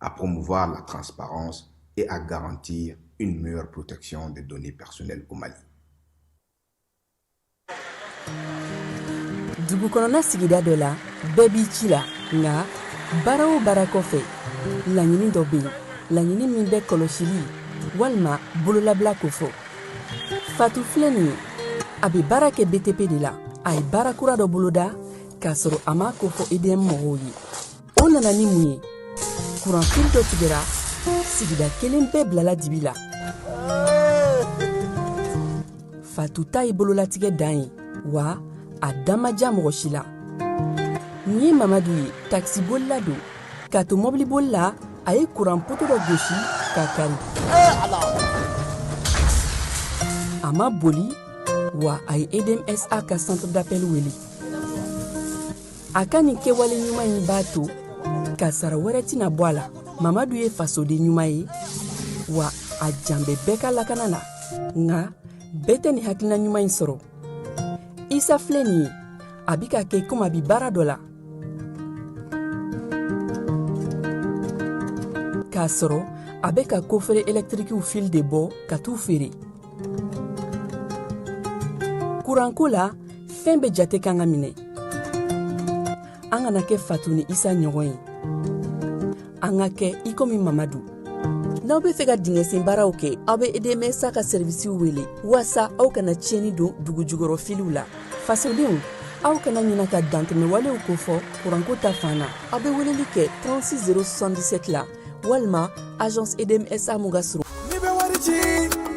à promouvoir la transparence et à garantir une meilleure protection des données personnelles au Mali. dugu kɔnɔna sigida dɔ la bɛɛ b'i ci la nka baara o baara kɔfɛ laɲini dɔ bɛ yen laɲini min bɛ kɔlɔsili walima bololabila kofɔ fatu filɛ nin ye a bɛ baara kɛ btp de la a ye baara kura dɔ boloda k'a sɔrɔ a m'a kofɔ edm mɔgɔw ye o nana ni mun ye kuran fili dɔ tigɛra sigida kelen bɛɛ bilala dibi la fatu ta ye bololatigɛ dan ye wa a dan ma ja mɔgɔ si la nin ye mamadu ye takisibolila don k'a to mɔbiliboli la a ye kuran poto dɔ gosi k'a kari a ma boli wa a ye edmsa ka centre d'appel wele a ka nin kɛwale ɲuman in b'a to kasara wɛrɛ tɛna bɔ a la mamadu ye fasoden ɲuman ye wa a jan bɛ bɛɛ ka lakana na nka bɛɛ tɛ nin hakilina ɲuman in sɔrɔ isa filɛ nin ye a bi k'a kɛ komi a bi baara dɔ la k'a sɔrɔ a bɛ ka kofere ɛlɛtirikiw fili de bɔ ka t'u feere kuranko la fɛn bɛɛ jate kan ka minɛ an kana kɛ fatu ni isa ɲɔgɔn ye an ka kɛ i komi mamadu n'aw be fɛ ka dingɛsen baaraw kɛ aw be edmsa ka sɛrivisiw wele waasa aw kana tiɲɛni don dugu jukɔrɔ filiw la fasodenw aw kana ɲina ka dantɛmɛwalew kofɔ kuranko ta fan na aw be weleli kɛ 36 077 la walima agence edmsa mun ka surun n'i bɛ wari ci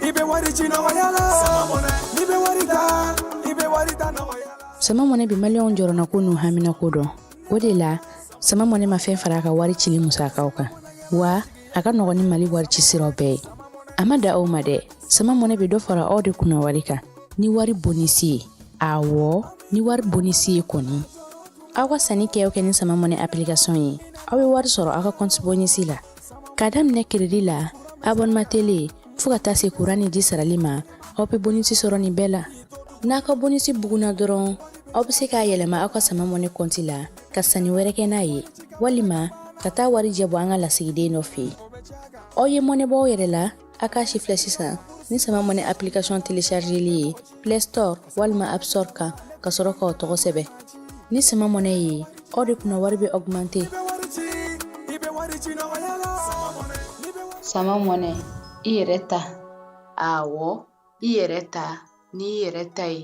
i bɛ wari ci nɔgɔya la n'i bɛ wari ta i bɛ wari ta nɔgɔya la sama mɔnɛ bi maliyɛnw jɔrɔnako n'u haminako dɔn o de la sama mɔnɛ ma fɛn fara a ka wari cili musakaw kan wa a ka nɔgɔn ni mali wari ci siraw bɛɛ ye a ma dan o ma dɛ sama mɔnɛ bɛ dɔ fara aw de kunna wari kan ni wari bonisi ye awɔ ni wari bonisi ye kɔni aw ka sannikɛw kɛ ni sama mɔnɛ application ye aw bɛ wari sɔrɔ aw ka compte bonus la k'a daminɛ crédit la abonnement télé fo ka taa se courant ni ji sarali ma aw bɛ bonus sɔrɔ nin bɛɛ la n'a ka bonus bugunna dɔrɔn aw bɛ se k'a yɛlɛma aw ka sama mɔnɛ compte la ka sanni wɛrɛ kɛ n'a ye walima ka taa warijɛ bɔ an ka lasigiden dɔ fɛ yen aw ye mɔnɛ bɔ aw yɛrɛ la aw k'a sifilɛ sisan ni sama mɔnɛ application téléchargeli ye play store walima app store kan ka sɔrɔ k'aw tɔgɔ sɛbɛn ni sama mɔnɛ ye aw de kunna wari bɛ augmente sama mɔnɛ i yɛrɛ ta awɔ i yɛrɛ ta n'i yɛrɛ ta ye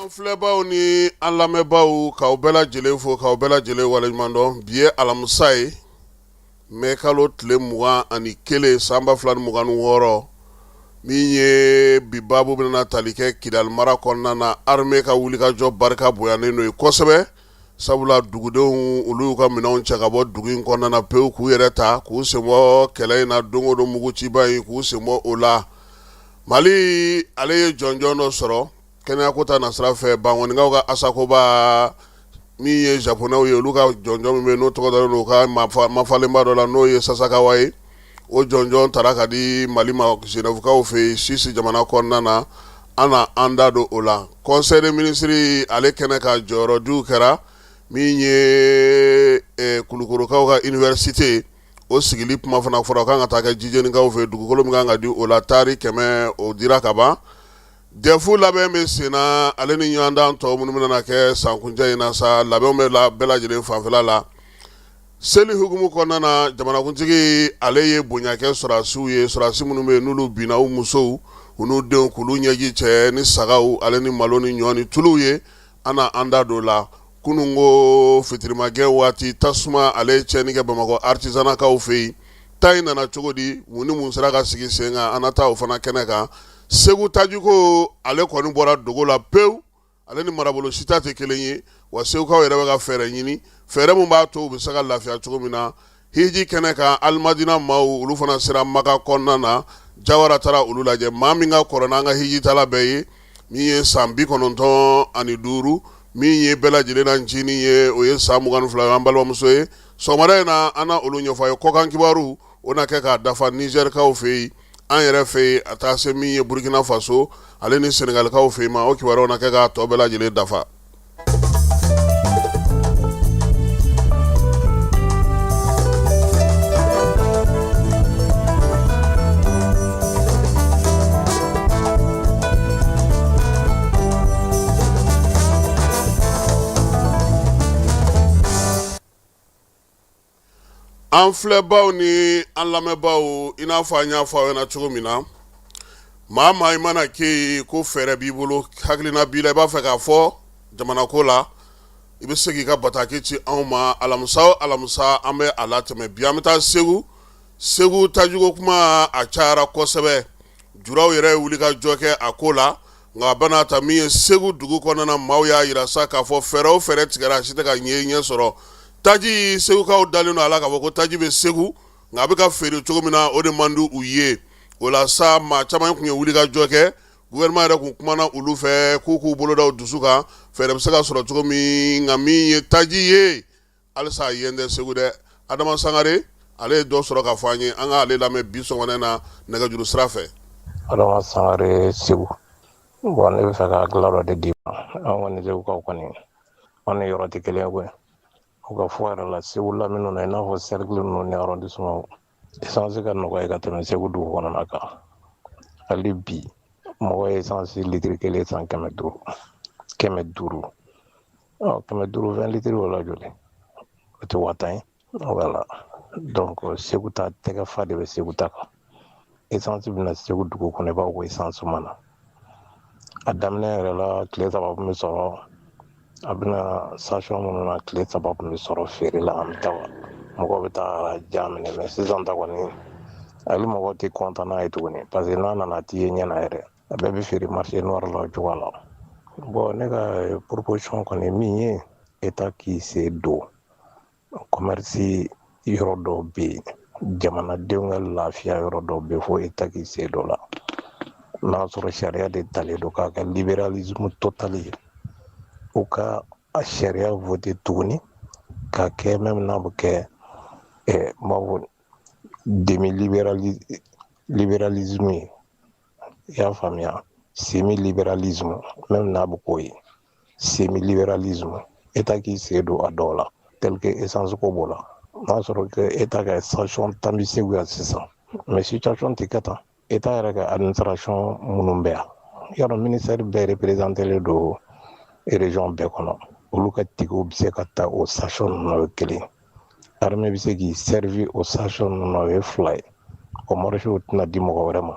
An filɛbaw ni an lamɛnbaw k'aw bɛɛ lajɛlen fo k'aw bɛɛ lajɛlen waleɲumandɔn bi ye alamisa ye mai kalo tile mugan ani kelen san ba fila ni mugan ni wɔɔrɔ min ye bi baabu bɛna tali kɛ kidali mara kɔnɔna na armée ka wulikajɔ barika bonyalen don yen kosɛbɛ sabula dugudenw olu y'u ka minɛnw cɛ ka bɔ dugu in kɔnɔna na pewu k'u yɛrɛ ta k'u senbɔ kɛlɛ in na don o don muguciba in k'u senbɔ o la Mali ale ye jɔnjɔn dɔ sɔrɔ Kɛnɛya ko ta nasira fɛ Bankonikaw ka ASACOBA min ye zapɔnɛw ye olu ka jɔnjɔn min bɛ n'o tɔgɔ dalen u ka mafalenba dɔ la n'o ye Sasakawa ye o jɔnjɔn taara ka di mali ma Genèvekaw fɛ yen Suisse jamana kɔnɔna na an na an da don o la conseil des ministres ale kɛnɛ kan jɔyɔrɔdiw kɛra min ye kulukorokaw ka université o sigili kuma fana fɔra k'a kan ka taa kɛ jijɛnikaw fɛ dugukolo min kan ka di o la tari kɛmɛ o dira kaban Dɛfu labɛn bɛ senna ale ni ɲɔgɔndan tɔw minnu bɛna kɛ san kuncɛ in na sa labɛnw bɛ la bɛɛ lajɛlen fanfɛla la seli hukumu kɔnɔna na jamanakuntigi ale ye bonya kɛ sɔrɔdasiw ye sɔrɔdasi minnu bɛ yen n'olu binna u musow u n'u denw k'olu ɲɛji cɛ ni sagaw ale ni malo ni ɲɔ ni tulu ye an na an da don o la kunun ko fitirimagɛn waati tasuma ale ye tiɲɛni kɛ bamakɔ artisanatkaw fɛ yen ta in nana cogo di mun ni mun sera ka sigi sen kan an na taa o fana kɛnɛ kan segu tajiko ale kɔni bɔra dogo la pewu ale ni marabolo si ta tɛ kelen ye wa segukaw yɛrɛ bɛ ka fɛɛrɛ ɲini fɛɛrɛ min b'a to u bɛ se ka lafiya cogo min na hiji kɛnɛ kan alimadina maaw olu fana sera makan kɔnɔna na Jawara taara olu lajɛ maa min ka kɔrɔ n'an ka hijitaala bɛɛ ye min ye san bi kɔnɔntɔn ani duuru min ye bɛɛ lajɛlen na ncinin ye o ye san mugan ni fila an balimamuso ye sɔgɔmada in na an na olu ɲɛfɔ aw ye kɔkan kibaru o na kɛ k'a dafa nizɛrikaw fɛ yen an yɛrɛ fɛ yen a taa se min ye burukina faso ale ni senegalikaw fɛ yen ma o kibaruyaw na kɛ k'a tɔ bɛɛ lajɛlen dafa an filɛbaw ni an lamɛnbaw i n'a fɔ an y'a fɔ aw ɲɛna cogo min na maa maa i mana kɛ yen ko fɛɛrɛ b'i bolo hakilina b'i la i b'a fɛ k'a fɔ jamanako la i bɛ se k'i ka bataki ci anw ma alamisa o alamisa an bɛ a latɛmɛ bi an bɛ taa segu segu tajiko kuma a cayara kosɛbɛ julaw yɛrɛ ye wuli ka jɔ kɛ a ko la nka bɛna ta min ye segu dugu kɔnɔna maaw y'a yira sa k'a fɔ fɛɛrɛ o fɛɛrɛ tigɛra a si tɛ ka ɲɛ ɲɛ sɔrɔ taji segukaw dalen don a la k'a fɔ ko taji bɛ segu nka a bɛ ka feere cogo min na o de man di u ye o la sa maa caman tun ye wuli ka jɔ kɛ gouvernement yɛrɛ tun kumana olu fɛ k'u k'u bolo da u dusu kan fɛɛrɛ bɛ se ka sɔrɔ cogo min nka min ye taji ye halisa a yen tɛ segu dɛ adama sangare ale ye dɔ sɔrɔ ka fɔ an ye an ka ale lamɛn bi sɔgɔmada na nɛgɛjuru sira fɛ adama sangare segu bon ne b'a fɛ ka hakilina dɔ de d'i ma an kɔni segukaw kɔni an ni yɔrɔ tɛ kelen ye koyi u ka fɔ yɛrɛ la segu lamini na i n'a fɔ sɛrikili ninnu ni arɔndisiman esansi ka nɔgɔya ka tɛmɛ segu dugu kɔnɔna kan hali bi mɔgɔ ye esansi litiri kelen san kɛmɛ duuru kɛmɛ duuru kɛmɛ duuru vingt litiri o la joli o tɛ waa tan ye voilà donc segu ta tɛgɛ fa de bɛ segu ta kan esansi bɛna segu dugu kɔnɔ i b'a fɔ ko esansi ma na A daminɛ yɛrɛ la tile saba tun bɛ sɔrɔ a bɛ na station minnu na tile saba tun bɛ sɔrɔ feere la an bɛ taa mɔgɔw bɛ taa rang jan minɛ mais sisan ta kɔni hali mɔgɔ tɛ kɔntan n'a ye tuguni parce que n'a nana t'i ye ɲɛ na yɛrɛ a bɛɛ bɛ feere marché noir la o cogoya la bon ne ka proposition kɔni min ye état k'i sen don kɔmɛrisi yɔrɔ dɔw bɛ yen jamanadenw ka lafiya yɔrɔ dɔw bɛ fo état k'i sen don a la n'a sɔrɔ sariya de talen don k'a kɛ liberalisme total ye u ka a sariya voter tuguni k'a kɛ même n'a bɛ kɛ ɛɛ n b'a fɔ demi liberalisme ye i y'a faamuya semi liberalisme même n'a bɛ k'o ye semi liberalisme état k'i sen don a dɔw la tel que essence ko b'o la n'a sɔrɔ que état ka station tan bɛ segu yan sisan mais situation tɛ kɛ tan état yɛrɛ ka administration minnu bɛ yan yɔrɔ ministère bɛɛ représentelen don région bɛɛ kɔnɔ olu ka tikɛw bɛ se ka ta o station ninnu na o ye kelen armée bɛ se k'i servir o station ninnu na o ye fila ye o marché tɛna di mɔgɔ wɛrɛ ma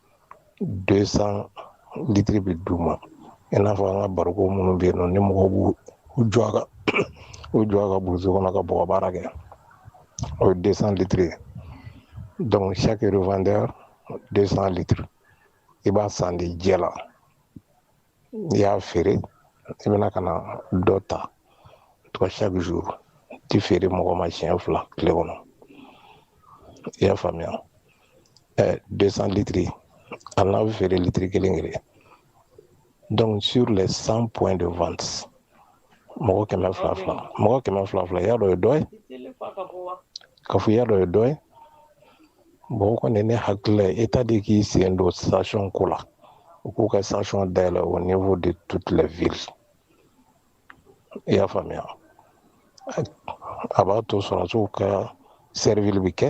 200 litiri bɛ d'u ma i n'a fɔ an ka bariko minnu bɛ yen nɔ ni mɔgɔw b'u jɔ a kan burusi kɔnɔ ka bɔgɔ baara kɛ o ye 200 litiri ye donc chaque revendeur 200 litiri i b'a san de jɛ la i y'a feere i bɛna ka na dɔ ta tugun chaque jour ti feere mɔgɔ ma siɲɛ fila tile kɔnɔ i y'a faamuya ɛ 200 litiri hali n'a bɛ feere litiri kelen kelen donc sur les 100 points de vente mɔgɔ kɛmɛ fila fila mɔgɔ kɛmɛ fila fila y'a dɔ ye dɔ ye ka fɔ y'a dɔ ye dɔ ye bon kɔni ne hakili la État de k'i sen don station ko la u k'u ka station dayɛlɛ au niveau de toute la ville i y'a faamuya a b'a to sɔrɔdasiw ka surveiller bɛ kɛ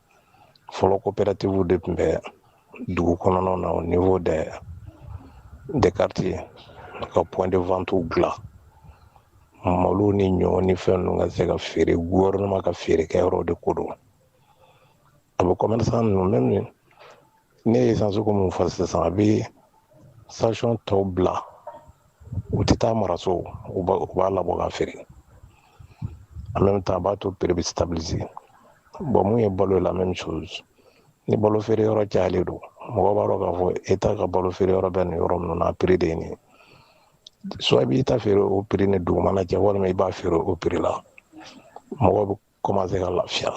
fɔlɔ coopératives de tun bɛ dugu kɔnɔnaw na au niveau des des quartiers ka point de vente dilan malo ni ɲɔ ni fɛn ninnu ka se ka feere gouvernement ka feerekɛyɔrɔ de ko don a bɛ commerçant ninnu même ne ye essence ko min fɔ sisan a bɛ station tɔw bila u tɛ taa maraso u b'a labɔ ka feere en même temps a b'a to prix bɛ stabiliser bon mun ye balo ye la même chose ni balo feere yɔrɔ cayalen don mɔgɔ b'a dɔn k'a fɔ État ka balo feere yɔrɔ bɛ nin yɔrɔ ninnu na prix de ye nin soit i b'i ta feere o prix ni dugumana cɛ walima i b'a feere o prix la mɔgɔ commencé ka lafiya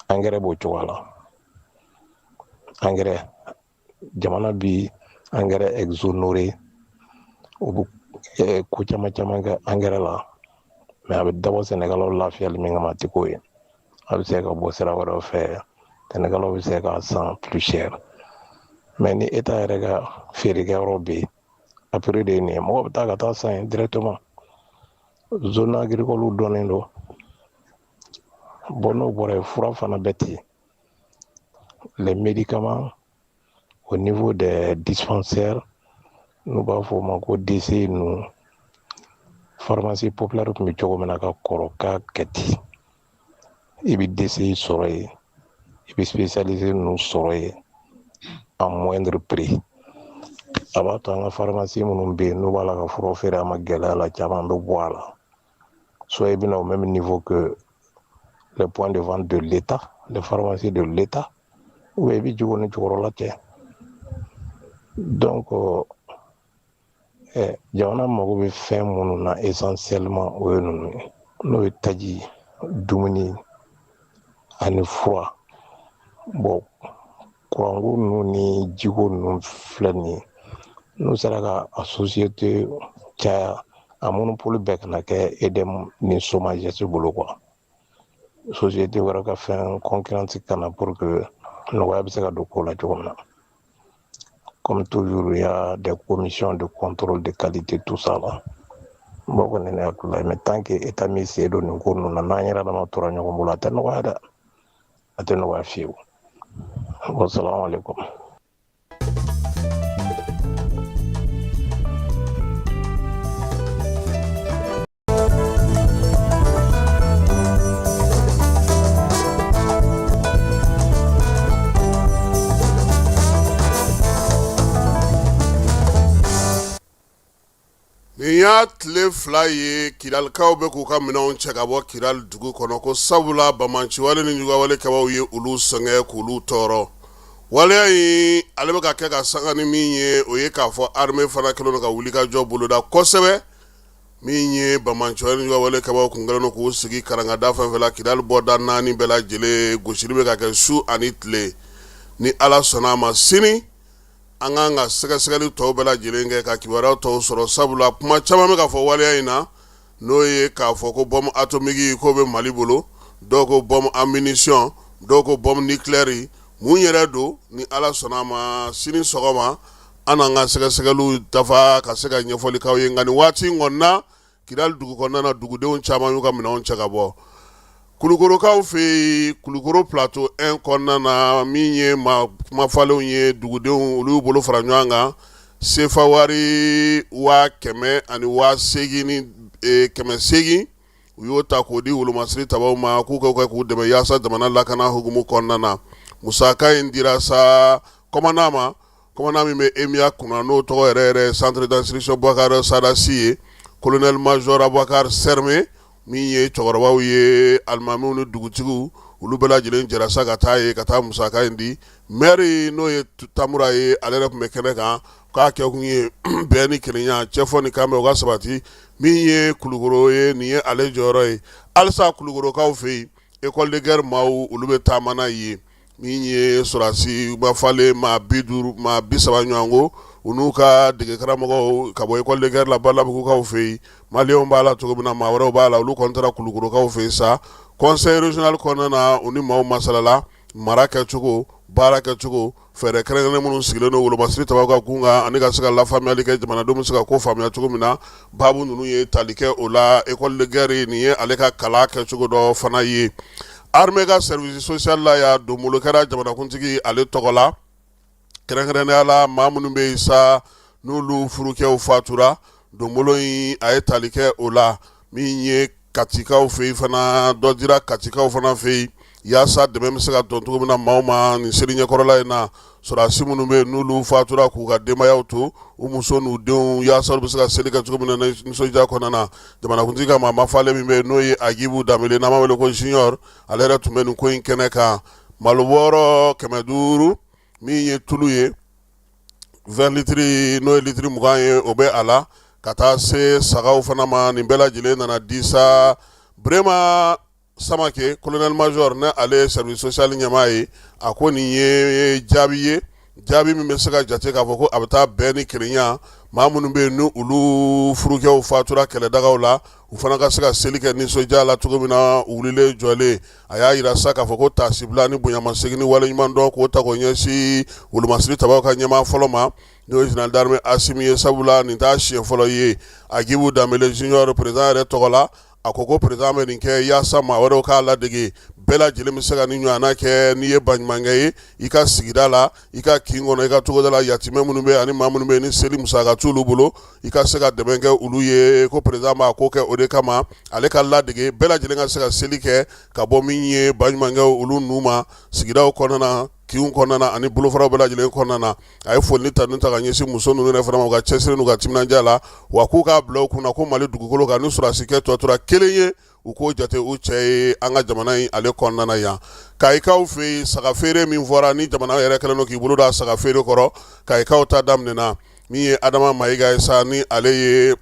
angɛrɛ b'o cogoya la angɛrɛ jamana bi angɛrɛ exonéré o bɛ eh, ko caman caman kɛ angɛrɛ la mais a bɛ dabɔ sɛnɛkɛlaw lafiyali min kama a tɛ k'o ye a bɛ se ka bɔ sira wɛrɛw fɛ sɛnɛkɛlaw bɛ se k'a san plus cher mais ni État yɛrɛ ka feerekɛyɔrɔ bɛ yen a prix de ye nin ye mɔgɔ bɛ taa ka taa san yen directement zone agricole dɔnnen don bon n'o bɔra yen fura fana bɛ ten les médicaments au niveau des dispensaires n'u b'a fɔ o ma ko DC ninnu pharmacie populaire tun bɛ cogo min na ka kɔrɔ k'a kɛ ten i bɛ DC sɔrɔ yen i bɛ spécialisé ninnu sɔrɔ yen à moindre prix a b'a to an ka farimasi minnu bɛ yen n'u b'a la ka fura feere a ma gɛlɛya la caman bɛ bɔ a la soit i bɛ na au même niveau que les points de vente de l'État les pharmacies de l'État ou i bɛ jigi o ni jukɔrɔla cɛ donc euh, jamana mago bɛ fɛn minnu na essentiellement o ye ninnu ye n'o ye taji dumuni ani fura bon kuranko ninnu ni jiko ninnu filɛ nin ye n'u sera ka a société caya a monopole bɛɛ kana kɛ EDM ni SOMAGEP bolo quoi société wɛrɛ ka fɛn concurrence ka na pour que nɔgɔya bɛ se ka don ko la cogo min na comme toujours il y a des commissions de contrôle de qualité tout ça là bon kɔni ne hakilila ye mais tant que état m'i sen don nin ko ninnu na n'an yɛrɛ dama tora ɲɔgɔn bolo a tɛ nɔgɔya dɛ a tɛ nɔgɔya fiyewu wasalamu alaikum Nin y'a tile fila ye kidalikaw bɛ k'u ka minɛnw cɛ ka bɔ kidali dugu kɔnɔ ko sabula banbaanci wale nijuguya wale kɛbaw ye olu sɛgɛn k'olu tɔɔrɔ waleya in ale bɛ ka kɛ ka sanga ni min ye o ye k'a fɔ armée fana kɛlen don ka wulikajɔ boloda kosɛbɛ min ye banbaanci wale nijuguya wale kɛbaw kun kɛlen k'u sigi karangada fɛn fɛn la kidali bɔda naani bɛɛ lajɛlen gosili bɛ ka kɛ su ani tile ni ala sɔnna a ma sini an k'an ka sɛgɛsɛgɛli tɔw bɛɛ lajɛlen kɛ ka kibaruya tɔw sɔrɔ sabula kuma caman bɛ ka fɔ waleya in na n'o ye k'a fɔ ko bombe atomique k'o bɛ mali bolo dɔw ko bombe à munition dɔw ko bombe nucléaire mun yɛrɛ don ni ala sɔnna a ma sini sɔgɔma an n'an ka sɛgɛsɛgɛli dafa ka se ka ɲɛfɔli k'aw ye nka nin waati in kɔnɔna na kidali dugu kɔnɔna na dugudenw caman y'u ka minɛnw cɛ ka bɔ kulukorokaw fɛ yen kulukoro plateau un kɔnɔna na min ye maa mafalenw ye dugudenw olu bolo fara ɲɔgɔn kan sefa wari waa kɛmɛ ani waa kɛmɛ seegin u y'o ta k'o di wolomasiri tabaw ma k'u ka kɛ k'u dɛmɛ yaasa jamana lakana hukumu kɔnɔna na musaka in dira sa commandant ma Commandant min bɛ emiya kunna n'o tɔgɔ yɛrɛ centre d'instruction boubacar sada sy ye colonel major aboubacar serme min ye cɛkɔrɔbaw ye alimamiw ni dugutigiw olu bɛɛ lajɛlen jɛra sa ka taa yen ka taa musaka in di maire n'o ye tamura ye ale yɛrɛ tun bɛ kɛnɛ kan k'a kɛ kun ye bɛn ni kelenya cɛfɔ ni kanbɛn u ka sabati min ye kulukoro ye nin ye ale jɔyɔrɔ ye halisa kulukorokaw fɛ yen école de guerre maaw olu bɛ taama na yen min ye sɔrɔdasi mafalen maa bi duuru maa bi saba ɲɔgɔn ko u n'u ka degekaramɔgɔw ka bɔ école de guerre la balabugukaw fɛ yen maliyɛnw b'a la cogo min na maa wɛrɛw b'a la olu kɔni taara kulukorokaw fɛ yen sa kɔnɛrezli kɔnɔna na u ni maaw masalala mara kɛcogo baara kɛcogo fɛɛrɛ kɛrɛnkɛrɛnnen minnu sigilen don wolomasiri tabaw ka kun kan ani ka se ka lafaamuyali kɛ jamanadenw bɛ se ka ko faamuya cogo min na baabu ninnu ye tali kɛ o la école de guerre nin ye ale ka kalan kɛcogo dɔ fana ye armée ka service social la yan donbolo kɛra jamanakuntigi ale tɔgɔ la kɛrɛnkɛrɛnnenya la maa minnu bɛ yen sa n'olu furukɛw fatura donbolo in a ye tali kɛ o la min ye katikaw fɛ yen fana dɔ dira katikaw fana fɛ yen yaasa dɛmɛ bɛ se ka don cogo min na maaw ma nin seli ɲɛkɔrɔla in na sɔrɔdasi minnu bɛ yen n'olu fatura k'u ka denbayaw to u muso n'u denw yaasa olu bɛ se ka seli kɛ cogo min na nisɔndiya kɔnɔna na jamanakuntigi ka maa mafalen min bɛ yen n'o ye Agibu Danbele n'an b'a wele ko Junior ale yɛrɛ tun bɛ nin ko in kɛnɛ kan malo bɔɔrɔ kɛmɛ duuru min ye tulu ye 20 litiri n'o ye litiri mugan ye o bɛ a la ka taa se sagaw fana ma nin bɛɛ lajɛlen nana di sa Burema Samake colonel major ni ale ye service social ɲɛmaa ye a ko nin ye jaabi ye jaabi min bɛ se ka jate k'a fɔ ko a bɛ taa bɛn ni kelenya maa minnu bɛ yen n'olu furukɛw fatura kɛlɛdagaw la u fana ka se ka seli kɛ nisɔndiya la cogo min na wulilen jɔlen a y'a yira sa k'a fɔ ko tasibila ni bonyamasegin ni waleɲuman dɔn k'o ta k'o ɲɛsin wolomasiri tabaw ka ɲɛmaa fɔlɔ ma n'o ye général d'armée Asimi ye sabula nin t'a siɲɛ fɔlɔ ye Agibu Danbele Junior président yɛrɛ tɔgɔ la a ko ko président bɛ nin kɛ yaasa maa wɛrɛw k'a ladege bɛɛ lajɛlen bɛ se ka nin ɲɔgɔnna kɛ n'i ye baɲumankɛ ye i ka sigida la i ka kin kɔnɔ i ka togoda la yatimɛ minnu bɛ ani maa minnu bɛ ni seli musaka t'olu bolo i ka se ka dɛmɛ kɛ olu ye ko président b'a ko kɛ o de kama ale ka ladege bɛɛ lajɛlen ka se ka seli kɛ ka bɔ min ye baɲumankɛw olu nu ma sigidaw kɔnɔna kinw kɔnɔna ani bolofaraw bɛɛ lajɛlen kɔnɔna a ye foli ni tanu ta ka ɲɛsin muso ninnu yɛrɛ fana ma u ka cɛsiri n'u ka timinandiya la wa k'u k'a bila u kunna ko Mali dugukolo kan ni sɔrɔdasikɛ tɔ tora kelen ye u k'o jate u cɛ ye an ka jamana in ale kɔnɔna yan Kayikaw fɛ yen saga feere min fɔra ni jamana yɛrɛ kɛlen don k'i bolo da saga feere kɔrɔ Kayikaw ta daminɛna min ye Adama Mayiga ye sa ni ale ye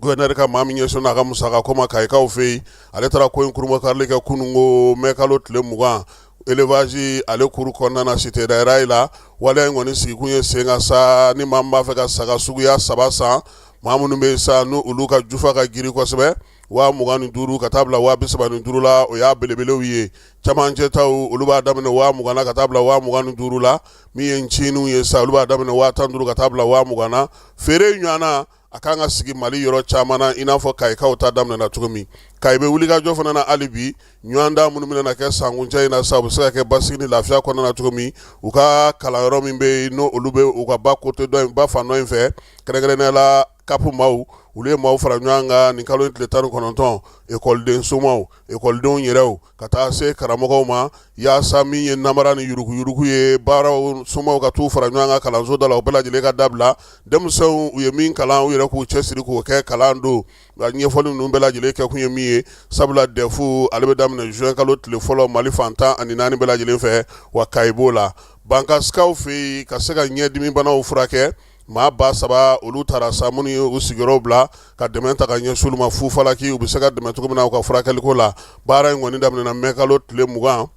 gouverneur ka maa min ɲɛsinnen a ka musaka ko ma Kayikaw fɛ yen ale taara ko in kurunbonkarili kɛ kunun ko mɛ kalo tile mugan élevage ale kuru kɔnɔna cité daïra la wale in kɔni sigikun ye sen kan sa ni maa min b'a fɛ ka saga suguya saba san mɔgɔ minnu bɛ sa n'olu ka jufa ka girin kosɛbɛ waa mugan ni duuru ka taa bila waa bi saba ni duuru la o y'a belebelew ye camancɛ taw olu b'a daminɛ waa mugan na ka taa bila waa mugan ni duuru la min ye ncininw ye sa olu b'a daminɛ waa tan ni duuru ka taa bila waa mugan na feere ɲɔgɔnna a kan ka sigi Mali yɔrɔ caman na i n'a fɔ Kayikaw ta daminɛna cogo min Kayi bɛ wulikajɔ fana na hali bi ɲɔgɔndan minnu bɛna kɛ sankuncɛ in na sa u bɛ se ka kɛ basigi ni lafiya kɔnɔna na cogo min u ka kalanyɔrɔ min bɛ yen n'olu bɛ u ka ba kote dɔ in ba fan dɔ in fɛ kɛrɛnkɛrɛnnenya la CAP maaw olu ye maaw fara ɲɔgɔn kan nin kalo tile tan ni kɔnɔntɔn ekɔliden somaw ekɔlidenw yɛrɛ ka taa se karamɔgɔw ma yaasa min ye namara ni yuruguyurugu ye baaraw somaw ka t'u fara ɲɔgɔn kan kalansoda la u bɛɛ lajɛlen ka dabila denmisɛnw u ye min kalan u yɛrɛ k'u cɛsiri k'o kɛ kalan don a ɲɛfɔli ninnu bɛɛ lajɛlen kɛ kun ye min ye sabula dɛfu ale bɛ daminɛ juin kalo tile fɔlɔ mali fan tan ani naani bɛɛ lajɛlen fɛ wa ka b'o la bankasikaw fɛ yen ka se ka ɲɛdimibanaw furakɛ maa ba saba olu tara sa minnu ye u sigiyɔrɔ bila ka dɛmɛ ta ka ɲɛsin olu ma fufalaki u bɛ se ka dɛmɛ cogo min na u ka furakɛliko la baara in kɔni daminɛna mɛkalo tile mugan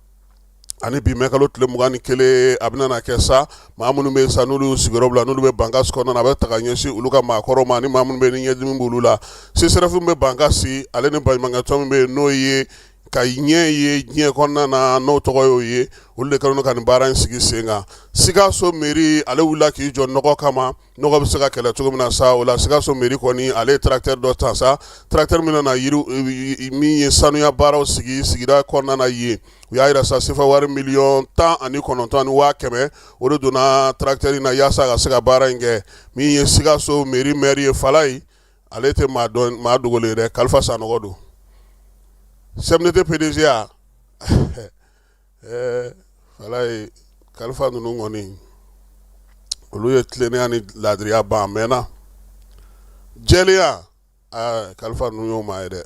ani bi mɛkalo tile mugan ni kelen a bɛna kɛ sa maa minnu bɛ sa n'olu y'u sigiyɔrɔ bila n'olu bɛ bankasi kɔnɔna a bɛ ta ka ɲɛsin olu ka maakɔrɔw ma ni maa minnu bɛ ni ɲɛdimi b'olu la sesɛrɛfu min bɛ bankasi ale ni baɲumankɛtɔn min bɛ yen n'o ye ka ɲɛ ye diɲɛ kɔnɔna na n'o tɔgɔ y'o ye olu de kɛlen ka nin baara in sigi sen kan sikaso mairie ale wulila k'i jɔ nɔgɔ kama nɔgɔ bɛ se ka kɛlɛ cogo min na sa o la sikaso mairie kɔni ale ye tracteur dɔ ta sa tracteur min na min ye sanuya baaraw sigi sigida kɔnɔna na yen u y'a yira sa sefa wari miliyɔn tan ani kɔnɔntɔn ni waa kɛmɛ o de donna tracteur in na yaasa ka se ka baara in kɛ min ye sikaso mairie maire ye fala ye ale tɛ maa dogolen ye dɛ kalifa sanɔgɔ don CMDT PDG ya ɛɛ walayi kalifa ninnu kɔni olu ye tilennenya ni laadiriya ban a mɛnna jɛlenya ɛɛ kalifa ninnu y'o maa ye dɛ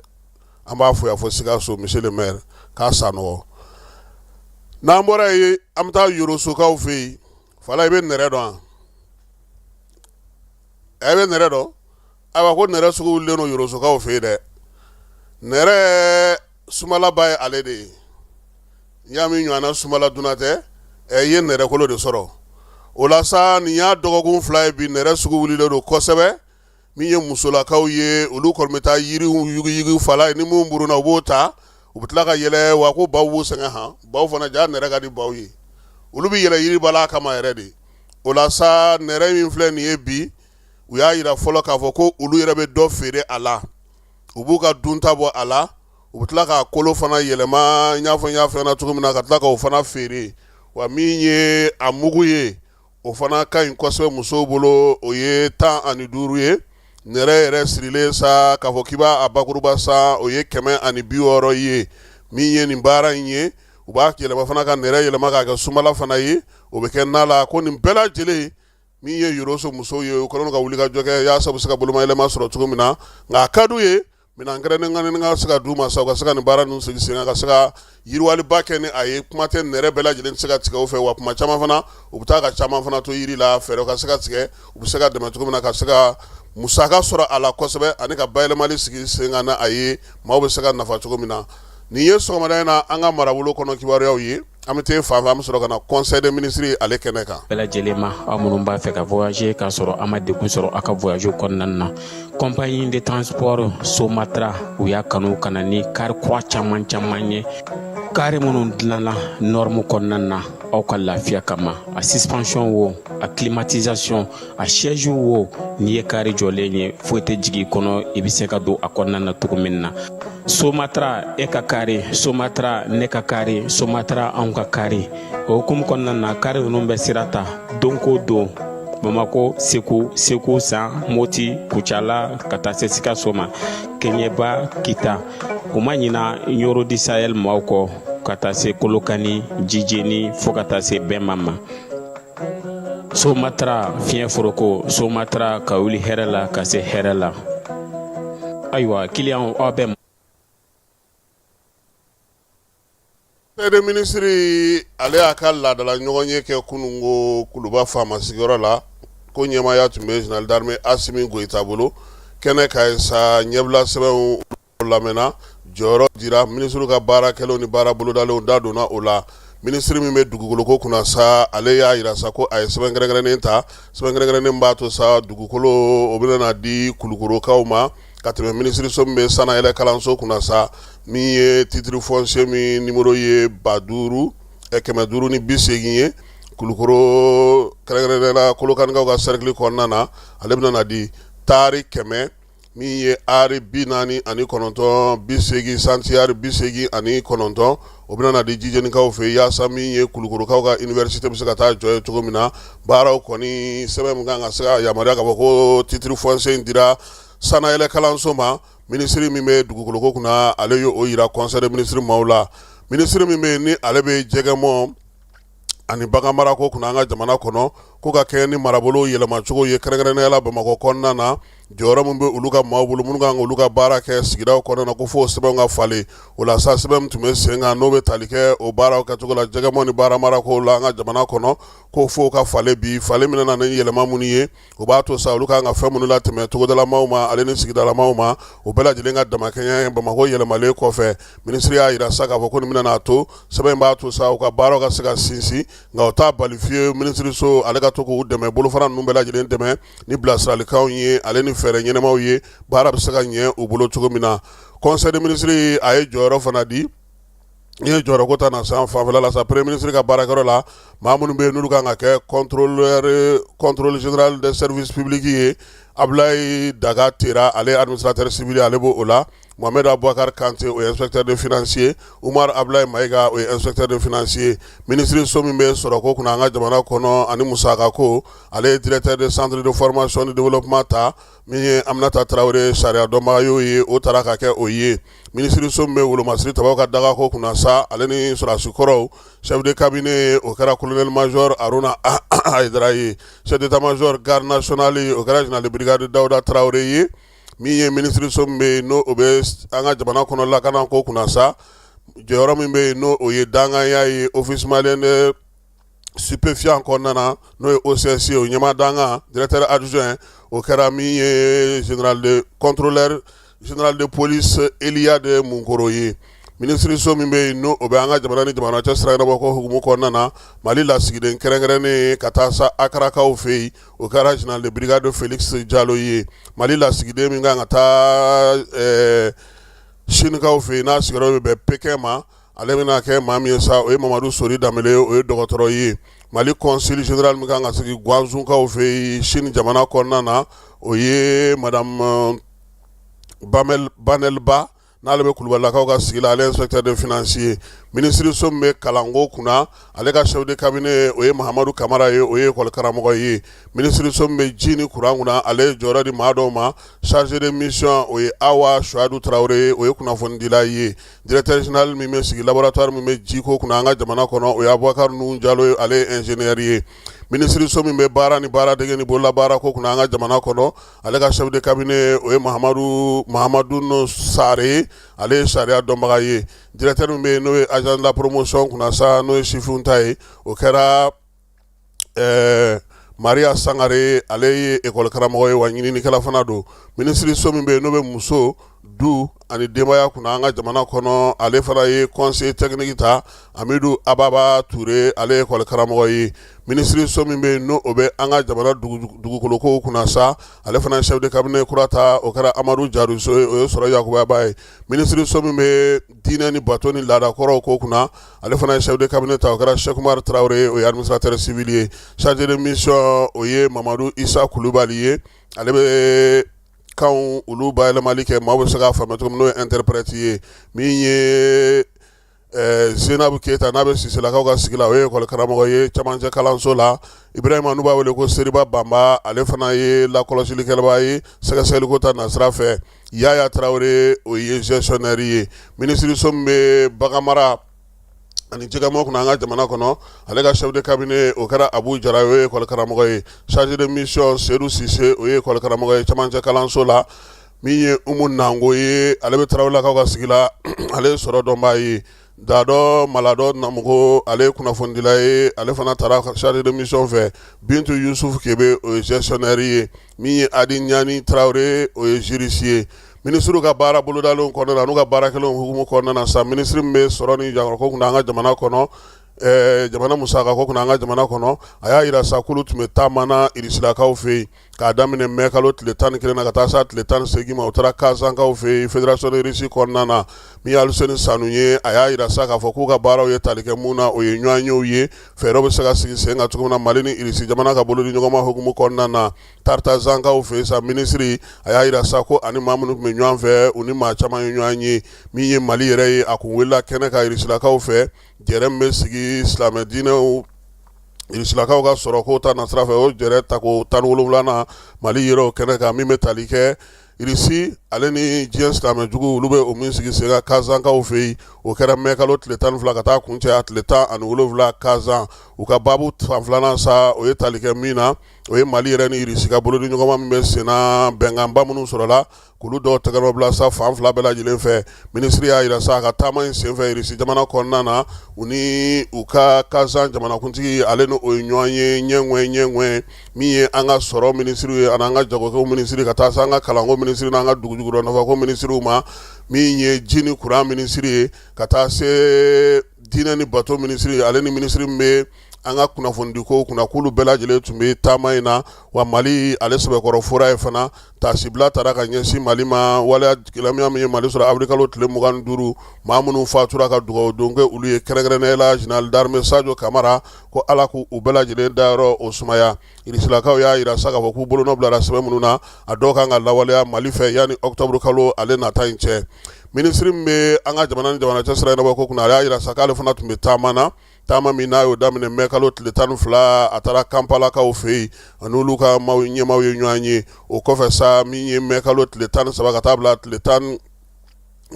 an b'a fo yan fo Sikaso monsieur le maire k'a sanɔgɔ n'an bɔra yen an bɛ taa yorosokaw fɛ yen fala i bɛ nɛrɛ dɔn wa. e bɛ nɛrɛ dɔn ayiwa ko nɛrɛ sugu wulilen don yɔrɔsokaw fɛ yen dɛ nɛrɛ sumalaba ye ale de ye n'i y'a mɛn ɲɔgɔn sumala duman tɛ i ye nɛrɛkolo de sɔrɔ o la nin y'a dɔgɔkun fila ye bi nɛrɛ sugu wulilen don kosɛbɛ min ye musolakaw ye olu kɔni bɛ taa yiri yuguyugu fala ye ni minnu burunna u b'o ta u bɛ tila ka yɛlɛ wa ko baw b'u sɛgɛn han baw fana jaa nɛrɛ ka di baw ye olu bɛ yɛlɛ yiri bala kama yɛrɛ de o la sa nɛrɛ min filɛ nin ye bi u y'a yira fɔlɔ k'a fɔ ko olu yɛrɛ bɛ dɔ feere a la u b'u ka dunta bɔ a la u bɛ tila k'a kolo fana yɛlɛma i n'a fɔ n y'a fɔ cogo min na ka tila k'o fana feere wa min ye a mugu ye o fana ka ɲi kosɛbɛ musow bolo o ye tan ani duuru ye nɛrɛ yɛrɛ sirilen sa k'a fɔ k'i b'a bakuruba san o ye kɛmɛ ani bi wɔɔrɔ ye min ye nin baara in ye u b'a yɛlɛma fana ka nɛrɛ yɛlɛma k'a kɛ sumala fana ye o bɛ kɛ na la ko nin bɛɛ lajɛlen min ye yɔrɔso musow ye u kɛlen ka wuli ka jɔ kɛ yaasa u bɛ se ka bolomayɛlɛma sɔrɔ cogo min na nka a ka d'u ye minɛn kɛrɛnkɛrɛnnen ka se ka d'u ma sa u ka se ka nin baara ninnu sigi sen kan ka se ka yiriwaliba kɛ ni a ye kuma tɛ nɛrɛ bɛɛ lajɛlen tɛ se ka tigɛ u fɛ wa kuma caman fana u bɛ taa ka caman fana to yiri la fɛɛrɛ ka se ka tigɛ u bɛ se ka dɛmɛ cogo min na ka se ka musaka sɔrɔ a la kosɛbɛ ani ka bayɛlɛmali sigi sen kan a ye maaw bɛ se ka nafa cogo min na nin ye sɔgɔmada in na an ka marabolo kɔnɔ kibaruyaraw ye an bɛ taa fan fɛ an bɛ sɔrɔ ka na conseil des ministres ale kɛnɛ kan bɛɛ lajɛlen ma aw minnu b'a fɛ ka voyager k'a sɔrɔ a ma degun sɔrɔ aw ka voyage kɔnɔna na compagnie de transport somatra u y'a kanu ka na ni kari kura caman caman ye kari minnu dilanna norme kɔnɔna na aw ka lafiya kama a suspension wo a climatisation a siège wo n'i ye kari jɔlen ye foyi tɛ jigin kɔnɔ i bɛ se ka don a kɔnɔna na cogo min na somatra e ka kari somatra ne ka kari somatra anw ka kari o hukumu kɔnɔna na kari ninnu bɛ sira ta don ko don bamakɔ segu segu san moti kucala ka taa se sikaso ma keɲɛba kita u ma ɲina nioro du sahel maaw kɔ ka taa se kolokani jijeni fɔɔ ka taa se bɛnma ma somatra fiɲɛ foroko somatra ka wuli hɛrɛ la ka se hɛrɛ la ayiwa ki aw bɛ conseil des ministres ale y'a ka laadala ɲɔgɔn ye kɛ kunun ko kuluba faama sigiyɔrɔ la ko ɲɛmaaya tun bɛ général d'armée asimi goyita bolo kɛnɛ kan sa ɲɛbila sɛbɛnw lamɛnna jɔyɔrɔ dira minisiriw ka baara kɛlenw ni baara bolodalenw da donna o la minisiri min bɛ dugukoloko kunna sa ale y'a yira sa ko a ye sɛbɛn kɛrɛnkɛrɛnnen ta sɛbɛn kɛrɛnkɛrɛnnen b'a to sa dugukolo o bɛna di kulukorokaw ma ka tɛmɛ minisiriso min bɛ sanayɛlɛ kalanso kunna sa min ye titre foncier min numéro ye ba duuru kɛmɛ duuru ni bi segin ye kulukoro kɛrɛnkɛrɛnnenyala kolokanikaw ka cercle kɔnɔna na ale bɛna na di tari kɛmɛ min ye ari bi naani ani kɔnɔntɔn bi segin santiari bi segin ani kɔnɔntɔn o bɛna na di jijenikaw fɛ yaasa min ye kulukorokaw ka université bɛ se ka taa jɔ yen cogo min na baaraw kɔni sɛbɛn min kan ka se ka yamaruya ka bɔ ko titre foncier in dira sanayɛlɛ kalanso ma minisiri min bɛ dugukoloko kunna ale y'o yira conseil des ministres maaw la minisiri min bɛ ni ale bɛ jɛgɛmɔn ani bagan mara ko kunna an ka jamana kɔnɔ ko ka kɛɲɛ ni marabolo yɛlɛmacogo ye kɛrɛnkɛrɛnnenyala bamakɔ kɔnɔna na jɔyɔrɔ min bɛ olu ka maaw bolo minnu ka kan ka olu ka baara kɛ sigidaw kɔnɔna na ko fo o sɛbɛnw ka falen o la sa sɛbɛn min tun bɛ sen kan n'o bɛ tali kɛ o baaraw kɛcogo la jɛgɛmɔn ni bagan mara ko la an ka jamana kɔnɔ ko fo o ka falen bi falen min nana ni yɛlɛma minnu ye o b'a to sa olu ka kan ka fɛn minnu latɛmɛ togodalamaw ma ale ni sigidalamaw ma o bɛɛ lajɛlen ka damakɛɲɛ bamakɔ yɛlɛmalen kɔfɛ minisiri y'a yira sa k'a fɔ ko nin bɛna n'a to sɛbɛn in b'a to sa u ka baaraw ka se ka sinsin nka o t'a bali fiyewu minisiriso ale ka to k'u dɛmɛ bolofara ninnu bɛɛ lajɛlen dɛmɛ ni bilasiralikanw ye ale ni fɛɛrɛ ɲɛnamaw ye baara bɛ se ka ɲɛ u bolo cogo min na conseil des ministres a ye jɔyɔrɔ fana di n ye jɔyɔrɔ ko ta na san fanfɛla la sa premier ministre ka baarakɛyɔrɔ la maa minnu bɛ yen n'olu kan ka kɛ contrôle général des services publics ye Abulayi Daga Tera ale administrateur civil ale b'o la Mohamed Aboubacar Kante o ye inspecteur des finances ye Umar Abulayi Mayiga o ye inspecteur des finances ye ministre so min bɛ sɔrɔko kunna an ka jamana kɔnɔ ani musakako ale ye directeur de centre de formation de développement ta min ye Aminata Tarawele sariya dɔnbaga y'o ye, o tara ka kɛ o ye minisiriso min bɛ wolomasiri tabaaw ka dagako kunna sa, ale ni sɔrɔdasi kɔrɔw chef de cabinet o kɛra colonel major Aruna Ayidara ye, chef d'etat major garde nationale o kɛra général de brigade Dawuda Tarawele ye, min ye minisiriso min bɛ yen n'o bɛ an ka jamana kɔnɔ lakanako kunna sa, jɔyɔrɔ min bɛ yen n'o ye dankanya ye office malien de stupéfiants kɔnɔna n'o ye OCS o ɲɛmaa dankan directeur adjoint o kɛra min ye général contrôleur général de police Eliade munkɔrɔ ye minisiriso min bɛ yen n'o bɛ an ka jamana ni jamana cɛ sira ɲɛnabɔ ko hukumu kɔnɔna na mali lasigiden kɛrɛnkɛrɛnnen ka taa sa akarakaw fɛ yen o kɛra général de brigade Félix jalo ye mali lasigiden min kan ka taa Sinikaw fɛ yen n'a sigiyɔrɔ bɛ bɛn Pékin ma ale bɛna kɛ maa min ye sa o ye mamadu sori Danbele o ye dɔgɔtɔrɔ ye mali consul général min kan ka sigi Guangzhoukaw fɛ yen sini jamana kɔnɔna na o ye madame Banelba n'ale bɛ kulubalilakaw ka sigi la ale inspecteur des finances ye minisiriso min bɛ kalanko kunna ale ka chef de cabinet o ye Mahamadu kamara ye o ye ekɔli karamɔgɔ ye minisiriso min bɛ ji ni kuran kunna ale jɔyɔrɔ di maa dɔw ma chargé de mission o ye Awa suwadu tarawele ye o ye kunnafonidila ye directeur général min bɛ sigi laboratoire min bɛ jiko kunna an ka jamana kɔnɔ o ye Aboubacar Nuhun jalo ye ale ye ingénieur ye minisiriso min bɛ baara ni baaradege ni bololabaara ko kunna an ka jamana kɔnɔ ale ka chef de cabinet o ye Mahamadu Sare ye ale ye sariya dɔnbaga ye directeur min bɛ yen n'o ye agence de la promotion kunna sa n'o ye sifinw ta ye o kɛra ɛɛ maria sangare ale ye ekɔli karamɔgɔ ye wa ɲininikɛla fana don minisiriso min bɛ yen n'o bɛ muso du ani denbaya kunna an ka jamana kɔnɔ ale fana ye conseiller technique ta Amidu ababa ture ale ye ekɔli karamɔgɔ ye minisiriso min bɛ yen n'o bɛ an ka jamana dugukolokow kunna sa ale fana ye chef de cabinet kura ta o kɛra amadu jariso o ye sɔrɔ yakubabaa ye minisiriso min bɛ diinɛ ni bato ni laada kɔrɔw ko kunna ale fana ye chef de cabinet ta o kɛra Cheick Oumar Traore ye o ye administrateur civil ye chargé de mission o ye Mamadu Issa Kulubali ye ale bɛ kanw olu bayɛlɛmali kɛ maaw bɛ se k'a faamuya cogo min n'o ye interprète ye min ye Eh, zeinabu keyita n'a bɛ siselakaw ka sigi la o ye ekɔli karamɔgɔ ye camancɛ kalanso la ibrahima n'u b'a wele ko seriba banba ale fana ye lakɔlɔsilikɛlaba ye sɛgɛsɛgɛliko ta nasira fɛ Yaya tarawele o ye gestionnaire ye minisiriso min bɛ baganmara ani jɛgɛmɔn kunna an ka jamana kɔnɔ ale ka chef de cabinet o kɛra abu jara o ye ekɔli karamɔgɔ ye chargé de mission sedu sise o ye ekɔli karamɔgɔ ye camancɛ kalanso la min ye umu nango ye ale bɛ tarawelelakaw ka sigi la ale ye sɔrɔ dɔnbaa ye Dadɔ maladɔ namɔgɔ ale ye kunnafonidila ye ale fana taara chargé de mission fɛ bintu yusufu kebe o ye gestionnaire ye min ye adi ɲani tarawele o ye juriste ye minisiriw ka baara bolodalenw kɔnɔna na n'u ka baara kɛlenw hukumu kɔnɔna na sa minisiri min bɛ sɔrɔ ni jago ko kunna an ka jamana kɔnɔ jamana musaka ko kunna an ka jamana kɔnɔ a y'a jira sa k'olu tun bɛ taama na irisilakaw fɛ yen k'a daminɛ mɛ kalo tile tan ni kelen na ka taa se tile tan ni segin ma u taara kazankaw fɛ yen fédération de Russie kɔnɔna na min ye aluseni sanu ye a y'a jira sa k'a fɔ k'u ka baaraw ye tali kɛ min na o ye ɲɔgɔn yew ye fɛɛrɛw bɛ se ka sigi sen kan cogo min na mali ni irisi jamana ka bolodiɲɔgɔnma hukumu kɔnɔna na tartazankaw fɛ yen sa minisiri a y'a jira sa ko a ni maa minnu tun bɛ ɲɔgɔn fɛ u ni maa caman ye ɲɔgɔn ye min ye mali yɛrɛ ye a tun wulila kɛnɛ kan irisilakaw fɛ jɛrɛ min bɛ sigi silamɛ diinɛw irisilakaw ka sɔrɔ ko ta nasira fɛ o jɛrɛ ta ko tan ni wolonwula mali yɛrɛ o kɛnɛ kan min bɛ tali kɛ irisi ale ni diɲɛ silamɛ jugu olu bɛ o min sigi sen kan kazankaw fɛ yen o kɛra mɛ kalo tile tan fila ka taa kuncɛ a tile tan ani wolonwula kazan u ka baabu fan filanan sa o ye tali kɛ min na o ye mali yɛrɛ ni irisi ka bolodiɲɔgɔnma min bɛ senna bɛnkanba minnu sɔrɔla k'olu dɔw tɛgɛnɔ bila sa fan fila bɛɛ lajɛlen fɛ minisiri y'a jira sa a ka taama in senfɛ irisi jamana kɔnɔna na u ni u ka kazan jamanakuntigi ale n' o ye ɲɔgɔn ye ɲɛ ɲɛ min ye an ka sɔrɔ minisiri ye ani an ka jago minisiri ka taa se an ka kalanko minisiri n' an ka dugujukɔrɔfɛnko minisiriw ma min ye ji ni kuran minisiri ye ka taa se diinɛ ni bato minisiri ale ni minisiri min bɛ an ka kunnafonidiko kunna k'olu bɛɛ lajɛlen tun bɛ taama in na wa mali ale sɛbɛkɔrɔ fora yen fana taasibila taara ka ɲɛsin mali ma waleya gɛlɛya min ye mali sɔrɔ awirili kalo tile mugan ni duuru maa minnu fatura ka dugawu don kɛ olu ye kɛrɛnkɛrɛnnenya la général d'armée sajo kamara ko ala k' u bɛɛ lajɛlen dayɔrɔ o sumaya irisilakaw y'a jira sa k'a fɔ k'u bolonɔ bilara sɛbɛn minnu na a dɔw ka kan ka lawaleya mali fɛ yanni ɔkutɔburu kalo ale nata in cɛ minisiri min bɛ an ka jamana ni jamana cɛ sira ɲɛnabɔ ko kunna a y'a jira sa k'ale fana tun bɛ taama na taama min n'a y'o daminɛ mɛ kalo tile tan ni fila a taara kampalakaw fɛ yen ani olu ka maa ɲɛmaaw ye ɲɔgɔn ye o kɔfɛ sa min ye mɛ kalo tile tan ni saba ka taa bila tile tan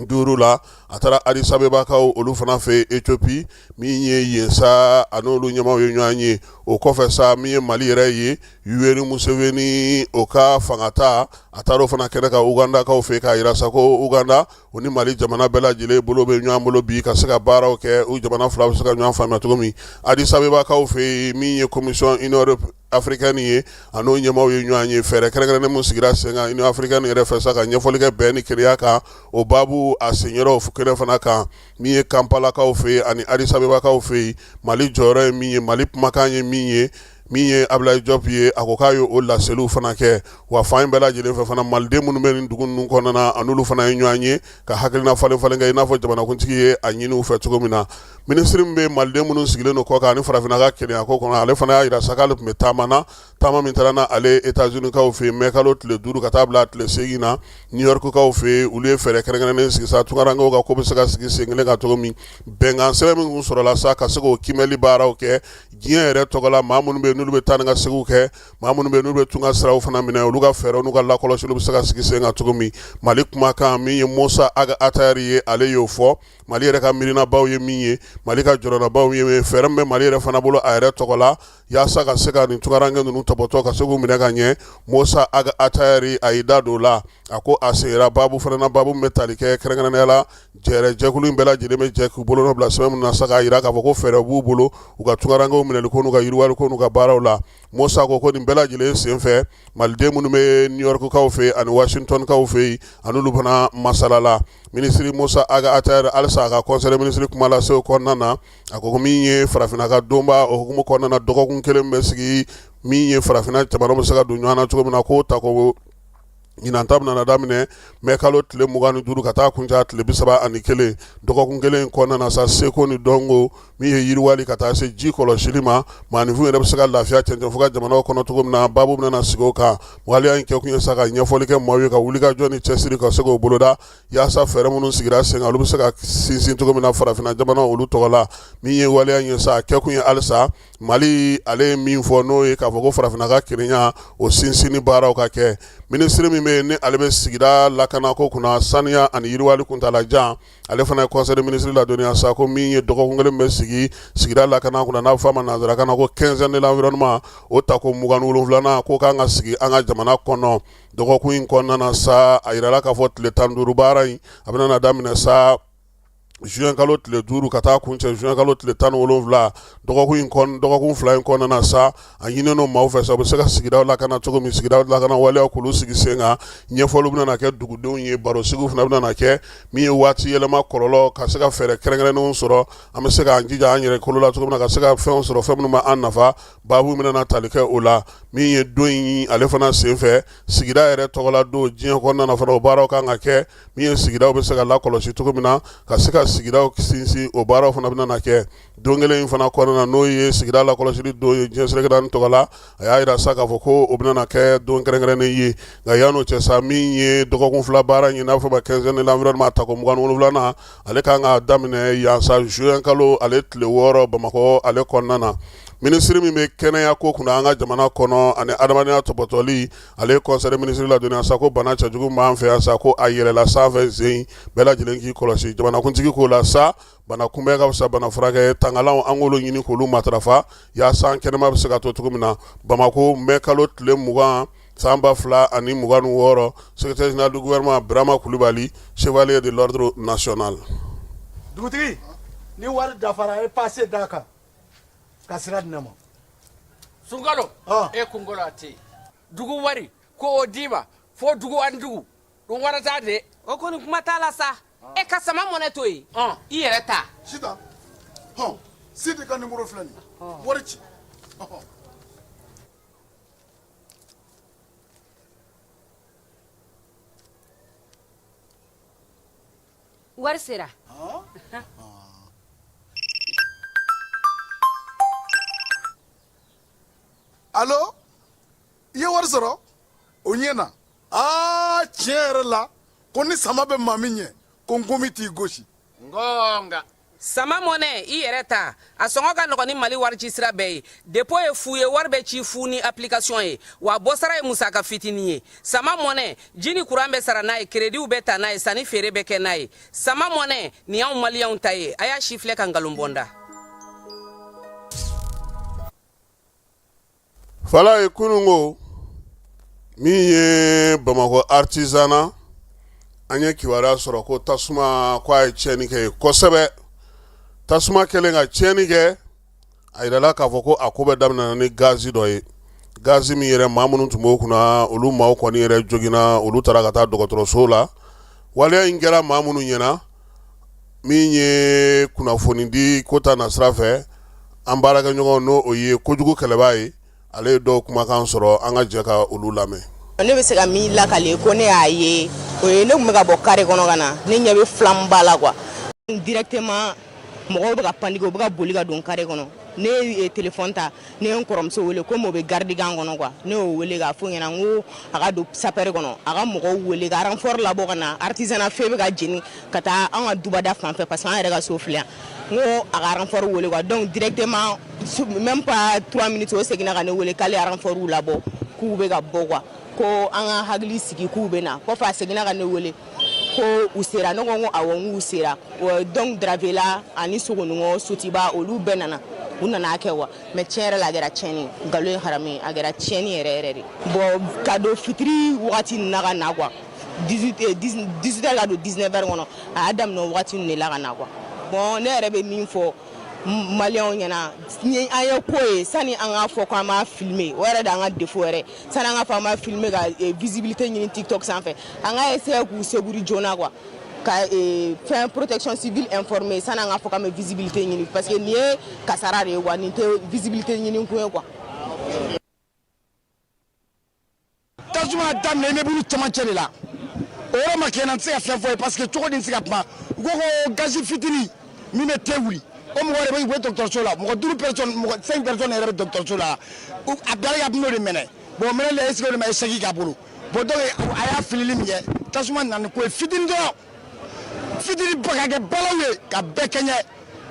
duuru la a taara adisabebakaw olu fana fɛ etiopi min ye yen sa ani olu ɲɛmaaw ye ɲɔgɔn ye o kɔfɛ sa min ye mali yɛrɛ ye yoweri museveni o ka fangata a taara o fana kɛnɛ kan ugandakaw fɛ k'a jira sa ko uganda o ni mali jamana bɛɛ lajɛlen bolo bɛ ɲɔgɔn bolo bi ka se ka baaraw kɛ u jamana fila bɛ se ka ɲɔgɔn faamuya cogo min adisabebakaw fɛ yen min ye komisɔn Union africaine ye an'o ɲɛmaaw ye ɲɔgɔn ye fɛɛrɛ kɛrɛnkɛrɛnnen min sigira sen kan Union africaine yɛrɛ fɛ sa ka ɲɛfɔli kɛ bɛn ni kelenya kan o baabu a senyɔrɔw kɛnɛ fana kan min ye kanpalakaw fɛ yen ani adisabebakaw fɛ yen mali jɔyɔrɔ ye min ye mali kumakan ye min ye min ye Abulayi Jɔp ye a ko k'a ye o laseliw fana kɛ wa fan bɛɛ lajɛlen fɛ fana Maliden minnu bɛ nin dugu ninnu kɔnɔna na a n'olu fana ye ɲɔgɔn ye ka hakilina falen falen kɛ i n'a fɔ jamanakuntigi ye a ɲini u fɛ cogo min na minisiri min bɛ Maliden minnu sigilen don kɔkan ani farafinna ka kelenya ko kɔnɔ ale fana y'a jira sa k'ale tun bɛ taama na taama min taara n'ale Etazunikaw fɛ yen mɛkalo tile duuru ka taa bila tile seegin na Niyɔrikukaw fɛ yen olu ye fɛɛrɛ kɛrɛnkɛrɛnnen sigi sa tunkarankew ka ko bɛ se ka sigi sen kelen kan cogo min bɛnkan sɛbɛn min tun sɔrɔla sa ka se k'o kiimɛli baaraw kɛ diɲɛ yɛrɛ tɔgɔ la maa minnu bɛ n'olu bɛ taa ni ka seginw kɛ maa minnu bɛ n'u bɛ tunga siraw fana minɛ olu ka fɛɛrɛ n'u ka lakɔlɔsi bɛ se ka sigi sen kan cogo min mali kumakan min ye musa Ag Attaher ye ale y'o fɔ mali yɛrɛ ka miirinabaw ye min ye mali ka jɔyɔrɔbaw ye fɛɛrɛ min bɛ mali yɛrɛ fana bolo a yɛrɛ tɔgɔ la yaasa ka se ka nin tunkaranke ninnu tɔpɔtɔ ka se k'u minɛ ka ɲɛ musa Ag Attaher a y'i da don o la a ko a seginna baabu fana na baabu min bɛ tali kɛ kɛrɛnkɛrɛnya la Jɛ jɛkulu in bɛɛ lajɛlen bɛ jɛ k'u bolonɔ bila sɛbɛn min na sa k'a jira k'a fɔ ko fɛɛrɛ b'u bolo u ka tunkarankew minɛli ko n'u ka yiriwali ko n'u ka baaraw la Musa ko ko nin bɛɛ lajɛlen senfɛ Maliden minnu bɛ New York kaw fɛ ani Washington kaw fɛ yen a n'olu fana masalala minisiri Musa Ag Attaher halisa a ka conseil des ministres kuma lase o kɔnɔna na a ko min ye farafinna ka donba o hukumu kɔnɔna na dɔgɔkun kelen bɛ sigi min ye farafinna jamanaw bɛ se ka don ɲɔgɔn na cogo min na k'o ta ko Ɲinan ta bɛna daminɛ mai kalo tile mugan ni duuru ka taa kuncɛ tile bi saba ani kelen dɔgɔkun kelen in kɔnɔna na sa seko ni dɔnko min ye yiriwali ka taa se ji kɔlɔsili ma maafinw yɛrɛ bɛ se ka lafiya cɛncɛnfuga jamana kɔnɔ cogo min na baabu bɛna sigi o kan waleya in kɛkun ye sa ka ɲɛfɔli kɛ maaw ye ka wuli ka jɔ ni cɛsiri ka se k'o boloda yaasa fɛɛrɛ minnu sigira sen kan olu bɛ se ka sinsin cogo min na farafinna jamana olu tɔgɔ la min ye waleya ye sa kɛkun ye halisa mali ale ye min fɔ n'o ye k'a fɔ ko farafinna ka kelenya o sinsinni baaraw ka kɛ minisiri min bɛ ni ale bɛ sigida lakana ko kunna saniya ani yiriwali kuntaalajan ale fana ye conseil des ministres ladɔnniya sa ko min ye dɔgɔkun kelen min bɛ sigi sigida lakana kunna n'a bɛ fɔ a ma nansarakan na ko quinzaine de l'environnement o ta ko mugan ni wolonwulanan ko o kan ka sigi an ka jamana kɔnɔ dɔgɔkun in kɔnɔna na sa a jirala k'a fɔ tile tan duuru baara in a bɛna daminɛ sa zuwɛnkalo tile duuru ka taa kuncɛ zuwɛnkalo tile tan ni wolonwula dɔgɔkun in dɔgɔkun fila in kɔnɔna na sa a ɲininen don maaw fɛ sa u bɛ se ka sigida lakana cogo min sigida lakana waleyaw k'olu sigi sen kan ɲɛfɔli bɛna kɛ dugudenw ye barosigiw fana bɛna kɛ min ye waati yɛlɛma kɔlɔlɔ ka se ka fɛɛrɛ kɛrɛnkɛrɛnnenw sɔrɔ an bɛ se k'an jija an yɛrɛ kolo la cogo min na ka se ka fɛn sɔrɔ fɛn minnu b'an nafa baabu bɛna tali kɛ o la min ye don in ale fana senfɛ sigida yɛrɛ tɔgɔla don diɲɛ kɔnɔna na fana o baaraw kan ka kɛ min ye sigidaw bɛ se ka lakɔlɔsi cogo min na ka se ka sigidaw sinsin o baaraw fana bɛna na kɛ don kelen in fana kɔnɔna na n'o ye sigida lakɔlɔsili don ye diɲɛ seleke naani tɔgɔ la a y'a jira sa k'a fɔ ko o bɛna kɛ don kɛrɛnkɛrɛnnen ye nka yann'o cɛ sa min ye dɔgɔkun fila baara in n'a fɔ ma quinzaine de l'environnement ta ko mugan ni wolonwulanan ale ka kan ka daminɛ yan sa zuwɛn kalo ale tile wɔɔrɔ bamakɔ ale kɔnɔna na minisiri min bɛ kɛnɛya ko kunna an ka jamana kɔnɔ ani adamadenya tɔpɔtɔli ale ye conseil des ministres ladɔnniya sa ko bana cɛjugu b'an fɛ sa ko a yɛlɛla sanfɛ sen bɛɛ lajɛlen k'i kɔlɔsi jamanakuntigi k'o la sa bana kunbɛn ka fisa bana furakɛ tangalanw an k'olu ɲini k'olu matarafa yaasa an kɛnɛma bɛ se ka to cogo min na bamakɔ mɛ kalo tile mugan san ba fila ani mugan ni wɔɔrɔ secrétaire général du gouvernement birama kulubali chevalier de l'ordre national dugutigi ni wari dafara ye pase d'a kan ka sira di ne ma sunkalo Ɔn. e kunkolo a tɛ yen dugu wari ko o d'i ma fo dugu ani dugu don wɛrɛ t'a de o kɔni kuma t'a la sa e ka sama mɔnɛ to yen Ɔn. i yɛrɛ ta sita hɔn sidi ka nimoro filɛ nin ye wari ci Ɔhɔ. Wari sera alo i ye wari sɔrɔ o ɲɛna aa tiɲɛ yɛrɛ la ko ni sama bɛ maa min ɲɛ ko nkɔmi t'i gosi nka sama mɔnɛ i yɛrɛ ta a sɔngɔ ka nɔgɔn ni mali waricisira bɛɛ ye depo ye fu ye wari bɛ ci fu ni apilikasiyɔn ye wa bɔsara ye musaka fitinin ye sama mɔnɛ ji ni kuran bɛ sara n'a ye kerediw bɛ ta n'a ye sanni feere bɛ kɛ n'a ye sama mɔnɛ nin y'anw maliyɛnw ta ye a y'a sifilɛ ka nkalon bɔ n da Fala ye kunun ko min ye bamakɔ artisanat an ye kibaruya sɔrɔ ko tasuma ko a ye tiɲɛni kɛ yen kosɛbɛ tasuma kɛlen ka tiɲɛni kɛ a jirala k'a fɔ ko a ko bɛɛ daminɛna ni gazi dɔ ye gazi min yɛrɛ maa minnu tun b'o kunna olu maaw kɔni yɛrɛ joginna olu taara ka taa dɔgɔtɔrɔso la waleya in kɛra maa minnu ɲɛna min ye kunnafoni di ko ta nasira fɛ an baarakɛɲɔgɔn n'o o ye kojugu kɛlɛbaa ye ale ye dɔw kumakan sɔrɔ an ka jɛ ka olu lamɛn ne bɛ se ka min lakale ko ne y'a ye o ye ne tun bɛ ka bɔ kare kɔnɔ ka na ne ɲɛ bɛ flamme ba la quoi directement mɔgɔw bɛ ka panike u bɛ ka boli ka don kare kɔnɔ ne ye telefɔni ta ne ye n kɔrɔmuso wele komi o bɛ garidi kan kɔnɔ quoi ne y'o wele k'a fɔ ɲɛna n ko a ka don sapɛri kɔnɔ a ka mɔgɔw wele ka aranfɔri labɔ ka na artisanat feu bɛ ka jeni ka taa an ka dubada fan fɛ parce que an yɛrɛ ka so filɛ yan n ko a ka aranfɔri wele quoi donc directement même pas trois minutes o seginna ka ne wele k'ale ye aranfɔriw labɔ k'u bɛ ka bɔ quoi ko an ka hakili sigi k'u bɛ na kɔfɛ a seginna ka ne wele ko u sera ne ko n ko awɔ n k'u sera donc dravela ani sogoninko sotuba olu bɛɛ nana u nana kɛ wa mais tiɲɛ yɛrɛ la a kɛra tiɲɛni nkalon ye haramu ye a kɛra tiɲɛni yɛrɛ yɛrɛ de bon ka don fitiri wagati ninnu na ka na quoi 18 heures ka don 19 heures kɔnɔ a y'a daminɛ o wagati ninnu de la ka na quoi bon ne yɛrɛ bɛ min fɔ maliyɛnw ye n'an ye ko ye sani an k'a fɔ ko an b'a filmer o yɛrɛ de an ka défaut yɛrɛ sani an k'a fɔ an b'a filmer ka eh, visibilité ɲini tiktok sanfɛ an ka essayer k'u secourir joona quoi ka eh, fɛn protection civile informer sani an k'a fɔ k'an bɛ visibilité ɲini parce que nin ye kasara de ye quoi nin tɛ visibilité ɲini kun ye quoi. tasuma daminɛnen bɛ bulu cɛmancɛ de la o yɔrɔ ma kɛ n na n tɛ se ka fɛn fɔ i ye parce que cogo di n tɛ se ka kuma u ko ko gazi fitini. min bɛ te wuli o mɔgɔ yɛrɛ bɛ u bɛ dɔgɔtɔrɔso la mɔgɔ duuru personnes mɔgɔ cinq personnes yɛrɛ bɛ dɔgɔtɔrɔso la a bilala ka bino de minɛ bon minɛ la est-ce que o de ma eseki ka bolo bɔn donc a y'a filili min kɛ tasuma nana ko ye fitini dɔrɔn fitini ba ka kɛ balawu ye ka bɛɛ kɛɲɛ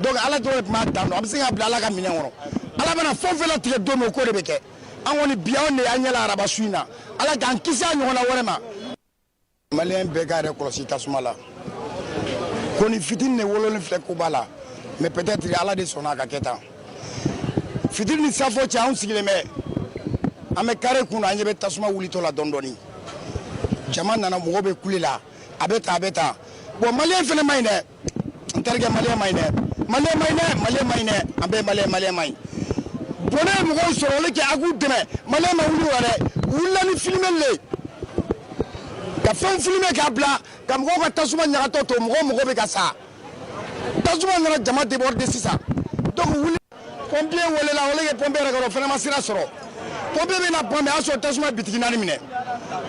donc ala dɔrɔn de tun b'a dan dɔn an bɛ se k'a bila ala ka minɛn kɔnɔ ala bɛna fɛn o fɛn latigɛ don min o ko de bɛ kɛ an kɔni bi anw de y'an ɲɛ la araba su in na ala k'an kisi a ɲɔgɔnna wɛrɛ ma maliyɛn bɛɛ k'a yɛrɛ kɔlɔsi tasuma la konin fitini de wololen filɛ koba la mais peut-être ala de sɔnna a ka kɛ tan fitiri ni saafo cɛ anw sigilen bɛ an bɛ kare kun na an ɲɛ bɛ tasuma wulitɔ la dɔɔni dɔɔni jama nana mɔgɔ bɛ kule la a bɛ tan a bɛ tan bon maliyɛn fana man ɲi dɛ n terikɛ maliyɛn man ɲi dɛ maliyɛn man ɲi dɛ maliyɛn man ɲi dɛ an bɛɛ maliyɛn maliyɛn man ɲi bɔnɛ ye mɔgɔw sɔrɔ olu kɛ a k'u dɛmɛ maliyɛn ma wuli a la dɛ u wulila ni filmer le ye ka fɛnw filmer k'a bila ka mɔgɔw ka tasuma ɲagatɔ to mɔgɔw mɔgɔ bɛ ka sa tasuma nana jama débordé sisan donc wuli pɔnpiye welela wele kɛ pɔnpiye yɛrɛ kɔrɔ fɛnɛ ma sira sɔrɔ pɔnpiye bɛ na pomper a y'a sɔrɔ tasuma bitigi naani minɛ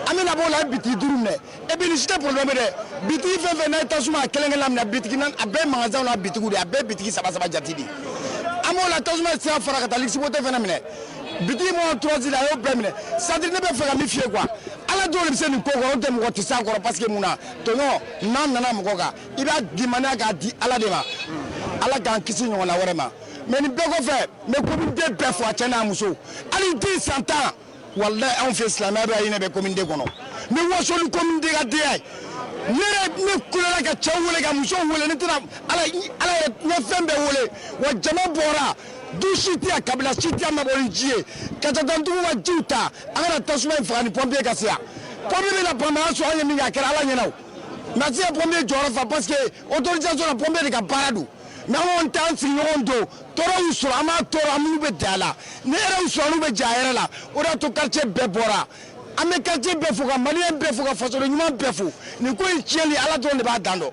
an bɛna b'o la a ye bitigi duuru minɛ et puis nin si tɛ problème ye dɛ bitigi fɛn o fɛn n'a ye tasuma a kelen kelen minɛ bitigi naani a bɛɛ magasinw n'a bitigiw de a bɛɛ bitigi saba saba jate de an b'o la tasuma sira fara ka taa lisibote fɛnɛ minɛ bitigi mɔgɔ tɔrɔsi la a y'o bɛɛ minɛ c'est-à-dire ne bɛ fɛ ka min f'i ye quoi ala dɔrɔn de bɛ se nin ko kɔrɔ n'o tɛ mɔgɔ tɛ s'a kɔrɔ parce que mun na tɔɲɔ n'a nana mɔgɔ kan i b'a dimaniya k'a di ala de ma ala k'an kisi a ɲɔgɔnna wɛrɛ ma mais nin bɛɛ kɔfɛ n bɛ komiden bɛɛ fo a cɛ n'a muso hali den san tan walayi anw fɛ silamɛya bɛ hinɛ bɛ komiden kɔnɔ ni wasoli komiden ka den ye ne yɛrɛ ne kulela ka cɛw wele ka musow wele ne tɛna ala ala yɛrɛ n ye fɛn bɛɛ wele wa jama bɔra du si tɛ yan kabila si tɛ yan ma bɔ ni ji ye ka jatɔntigiw ka jiw ta an ka na tasuma in faga yanni pɔnpiye ka se yan pɔnpiye bɛ na bamaya sɔrɔ an ye min kɛ a kɛra ala ɲɛna o na se ka pompier jɔyɔrɔ fa parce que autorisation na pompier de ka baara don mais an kɔni t'an sigiɲɔgɔn don tɔɔrɔ y'u sɔrɔ an b'a tɔɔrɔ an minnu bɛ ja a la ne yɛrɛ y'u sɔrɔ n'u bɛ ja a yɛrɛ la o de y'a to quartier bɛɛ bɔra an bɛ quartier bɛɛ fo ka maliyɛn bɛɛ fo ka fasoden ɲuman bɛɛ fo nin ko in tiɲɛli ala dɔrɔn de b'a dan dɔn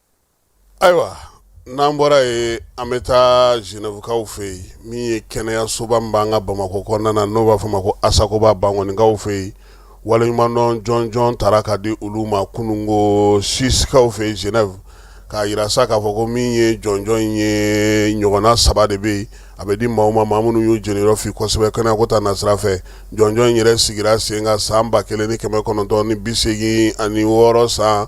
ayiwa n'an bɔra ye an bɛ taa Genèvekaw fɛ yen min ye kɛnɛyasoba min b'an ka bamakɔ kɔnɔna na n'o b'a fɔ ma ko asakoba bankɔnikaw fɛ yen waleɲumandɔn jɔnjɔn taara ka di olu ma kununko Suissekaw fɛ yen Genève k'a yira sa k'a fɔ ko min ye jɔnjɔn in ye ɲɔgɔnna saba de bɛ yen a bɛ di maaw ma maa minnu y'u jeniyɔrɔ fin kosɛbɛ kɛnɛyako ta nasira fɛ jɔnjɔn in yɛrɛ sigira sen kan san ba kelen ni kɛmɛ kɔnɔntɔn ni bi seegin ani wɔɔrɔ san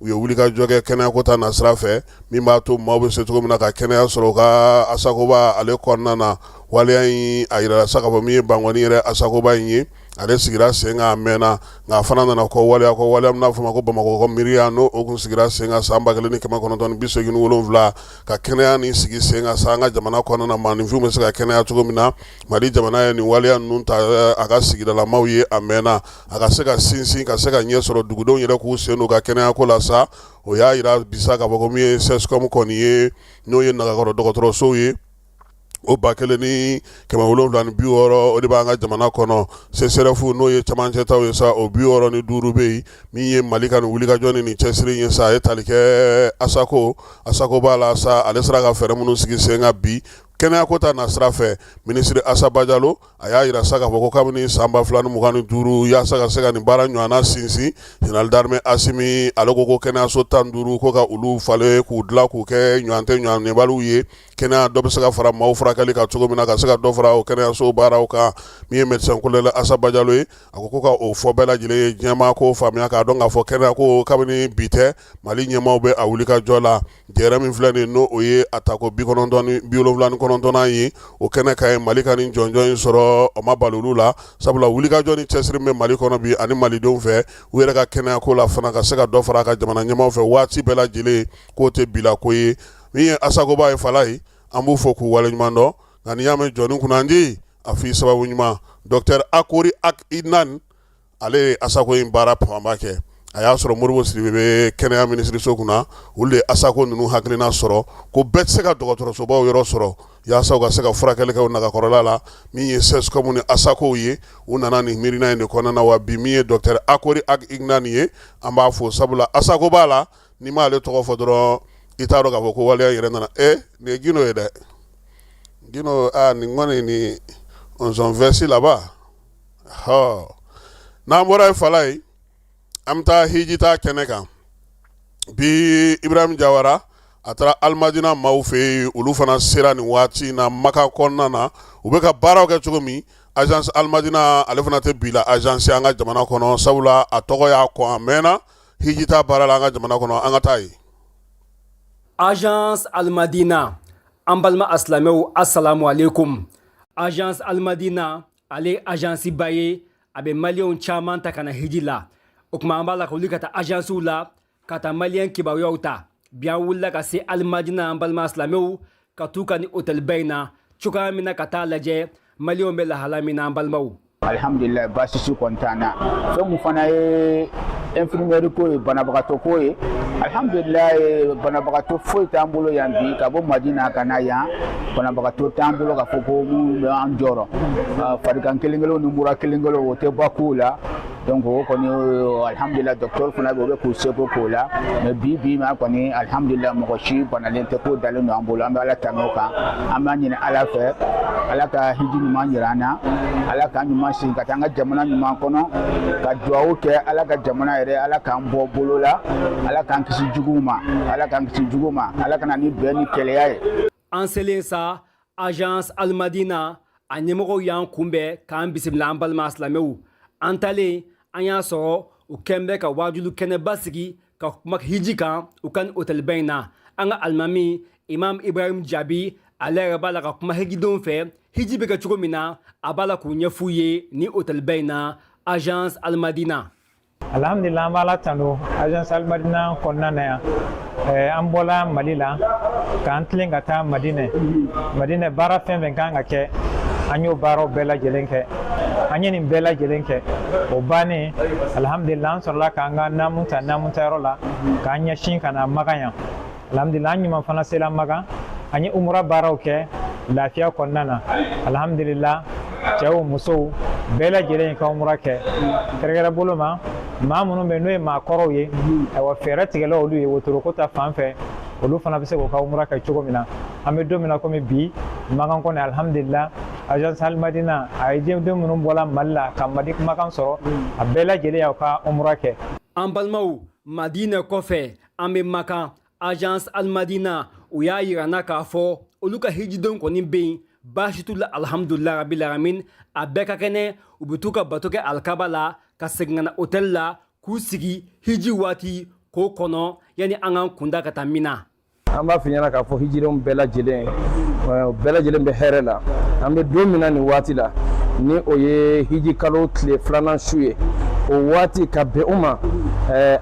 u ye wulikajɔ kɛ kɛnɛyako ta nasira fɛ min b'a to maaw bɛ se cogo min na ka kɛnɛya sɔrɔ u ka asakoba ale kɔnɔna na waleya in a yirala sa k'a fɔ min ye bankɔni yɛrɛ asakoba in ye ale sigira sen kan a mɛnna nka a fana nana kɔ waleya kɔ waleya min n'a fɔ ma ko bamakɔ miiriya n'o kun sigira sen kan san ba kelen ni kɛmɛ kɔnɔntɔn ni bi seegin ni wolonwula ka kɛnɛya nin sigi sen kan sa an ka jamana kɔnɔna na maaninfinw bɛ se ka kɛnɛya cogo min na mali jamana ye nin waleya ninnu ta a ka sigidalamaw ye a mɛnna a ka se ka sinsin ka se ka ɲɛ sɔrɔ dugudenw yɛrɛ k'u sen don u ka kɛnɛyako la sa o y'a yira bi sa k'a fɔ ko min ye CSCOM kɔni ye n'o ye nagakɔrɔ dɔgɔtɔrɔsow ye o ba kelen ni kɛmɛ wolonwula ni bi wɔɔrɔ o de b'an ka jamana kɔnɔ CSREF n'o ye cɛmancɛtaw ye sa o bi wɔɔrɔ ni duuru bɛ yen min ye Mali ka nin wulikajɔ ni nin cɛsiri in ye sa a ye tali kɛ ASACO ASACOBA la sa ale sera ka fɛɛrɛ minnu sigi sen kan bi kɛnɛyako ta nasira fɛ minisiri Asa Bajalo a y'a yira sa k'a fɔ ko kabini san 2025 yaasa ka se ka nin baara ɲɔgɔnna sinsin Général d'armée Asimi ale ko ko kɛnɛyaso tan duuru ko ka olu falen k'u dilan k'u kɛ ɲɔgɔn tɛ ɲɔgɔn yebaliw ye kɛnɛya dɔ bɛ se ka fara maaw furakɛli kan cogo min na ka se ka dɔ fara o kɛnɛyaso baaraw kan min ye médecin colonel Asa Bajalo ye a ko ko ka o fɔ bɛɛ lajɛlen ye diɲɛmaa k'o faamuya k'a dɔn k'a fɔ kɛnɛyako kabini bi tɛ Mali ɲɛmaaw bɛ a wulikajɔ la Jɛrɛ min filɛ nin n'o o ye a tako bi wolonfila ni kɔnɔntɔnnan ye o kɛnɛ kan yen mali ka nin jɔnjɔn in sɔrɔ o ma bala olu la sabula wulikajɔ ni cɛsiri bɛ mali kɔnɔ bi ani malidenw fɛ u yɛrɛ ka kɛnɛyako la fana ka se ka dɔ fara a ka jamana ɲɛmaaw fɛ waati bɛɛ lajɛlen k'o tɛ bilako ye min ye asakoba ye fana ye an b'u fo k'u waleɲuman dɔn nka n'i y'a mɛn jɔnni kunnandi a fɔ i sababu ɲuman docteur Akory Ag Iknane ale ye asako in baara fanba kɛ a y'a sɔrɔ Modibo Sidibe bɛ kɛnɛya minisiriso kunna olu ye asako ninnu hakilina sɔrɔ ko bɛɛ tɛ se ka dɔgɔtɔrɔsobaw yɔrɔ sɔrɔ yaasa u ka se ka furakɛli kɛ nagakɔrɔla la min ye CSCOM ni asako ye u nana nin miirina in de kɔnɔna na wa bi min ye docteur Akory Ag Iknane ye an b'a fo sabula asakoba la n'i m'ale tɔgɔ fɔ dɔrɔn i t'a dɔn k'a fɔ ko waleya yɛrɛ nana e nin ye Gindo ye dɛ Gindo nin kɔni nizɔnfɛsi laban n'an bɔra yen fan la yen an bɛ taa hijita kɛnɛ kan bi ibrahim jawara a taara alimadina maaw fɛ yen olu fana sera ni waati na makan kɔnɔna na u bɛ ka baaraw kɛ cogo min agence alimadina ale fana tɛ bi la agence ye an ka jamana kɔnɔ sabula a tɔgɔ y'a kɔn a mɛnna hijita baara la an ka jamana kɔnɔ an ka taa yen agence alimadina an balima silamɛw asalamu alekum agence alimadina ale ajansi ba ye a bɛ maliyɛnw caman ta ka na hiji la o tuma an b'a la ka wuli ka taa ajansiw la ka taa maliyɛn kibaruyaw ta bi an wulila ka se alimadina an balima silamɛw ka t'u ka ni otɛliba in na cogoya min na ka taa lajɛ maliyɛnw bɛ lahala min na an balimaw alihamdulilayi baasi si kɔni t'an na fɛn min fana ye infirmière ko ye banabagatɔ ko ye alhamdulilayi banabagatɔ foyi t'an bolo yan bi ka bɔ madina ka na yan banabagatɔ t'an bolo ka fɔ ko minnu bɛ an jɔrɔ ah, farigan kelen kelenw ni mura kelen kelenw o tɛ bɔ kow la donc o kɔni alhamdulila docteur fana bɛ o bɛ k'u seko k'o la mais bi bi ma kɔni alhamdulila mɔgɔ si banalen tɛ ko dalen don an bolo an bɛ ala tanu o kan an b'a ɲini ala fɛ ala ka hiji ɲuman jira an na ala k'an ɲuman segin ka taa an ka jamana ɲuman kɔnɔ ka duwawu kɛ ala ka jamana yɛrɛ ala k'an bɔ bolo la ala k'an kisi juguw ma ala k'an kisi juguw ma ala ka na ni bɛn ni kelenya ye an selen sa agence almadina a ɲɛmɔgɔw y'an kunbɛn k'an bisimila an balima silamɛw an taalen an y'a sɔrɔ u kɛn bɛ ka waajuli kɛnɛba sigi ka kuma hiji kan u ka ni otɛliba in na an ka alimami Imam Ibrahim Jabi ale yɛrɛ b'a la ka kuma hijidenw fɛ hiji bɛ kɛ cogo min na a b'a la k'o ɲɛf'u ye ni hotɛliba in na agence almadina alhamdulila an b'ala tando agence almadina kɔnɔna na yan an bɔla mali la k'an tilen ka taa madinɛ madinɛ baara fɛn fɛn ka kan ka kɛ an y'o baaraw bɛɛ lajɛlen kɛ an ye nin bɛɛ lajɛlen kɛ o bannen alhamdulila an sɔrɔla k'an ka naamu ta naamu ta yɔrɔ la k'an ɲɛsin ka na makan yan alhamdulila an ɲuman fana sela makan an ye umura baaraw kɛ lafiya kɔnɔna na alhamdulila cɛw musow bɛɛ lajɛlen y'u ka umura kɛ kɛrɛkɛrɛ bolo ma maa minnu bɛ n'o ye maakɔrɔw ye ayiwa fɛɛrɛ tigɛla olu ye wotoro ko ta fan fɛ olu fana bɛ se k'u ka umura kɛ cogo min na an bɛ don min na komi bi makan kɔni alhamdulila agence alimadina a hijiden minnu bɔla mali la ka madi ka makan sɔrɔ a bɛɛ lajɛlen y'u ka umura kɛ an balimaw madinɛ kɔfɛ An bɛ makan agence Almadina u y'a yira an na k'a fɔ olu ka hijidenw kɔni bɛ yen baasi t'u la alihamudulila rabil alamin a bɛɛ ka kɛnɛ u bɛ t'u ka bato kɛ alikaba la ka segin ka na hôtel la k'u sigi hiji waati k'o kɔnɔ yanni an k'an kunda ka taa mina an b'a f'i ɲɛna k'a fɔ hijidenw bɛɛ lajɛlen u bɛɛ lajɛlen bɛ hɛrɛ la an bɛ don min na nin waati la ni o ye hiji kalo tile filanan su ye o waati ka bɛn o ma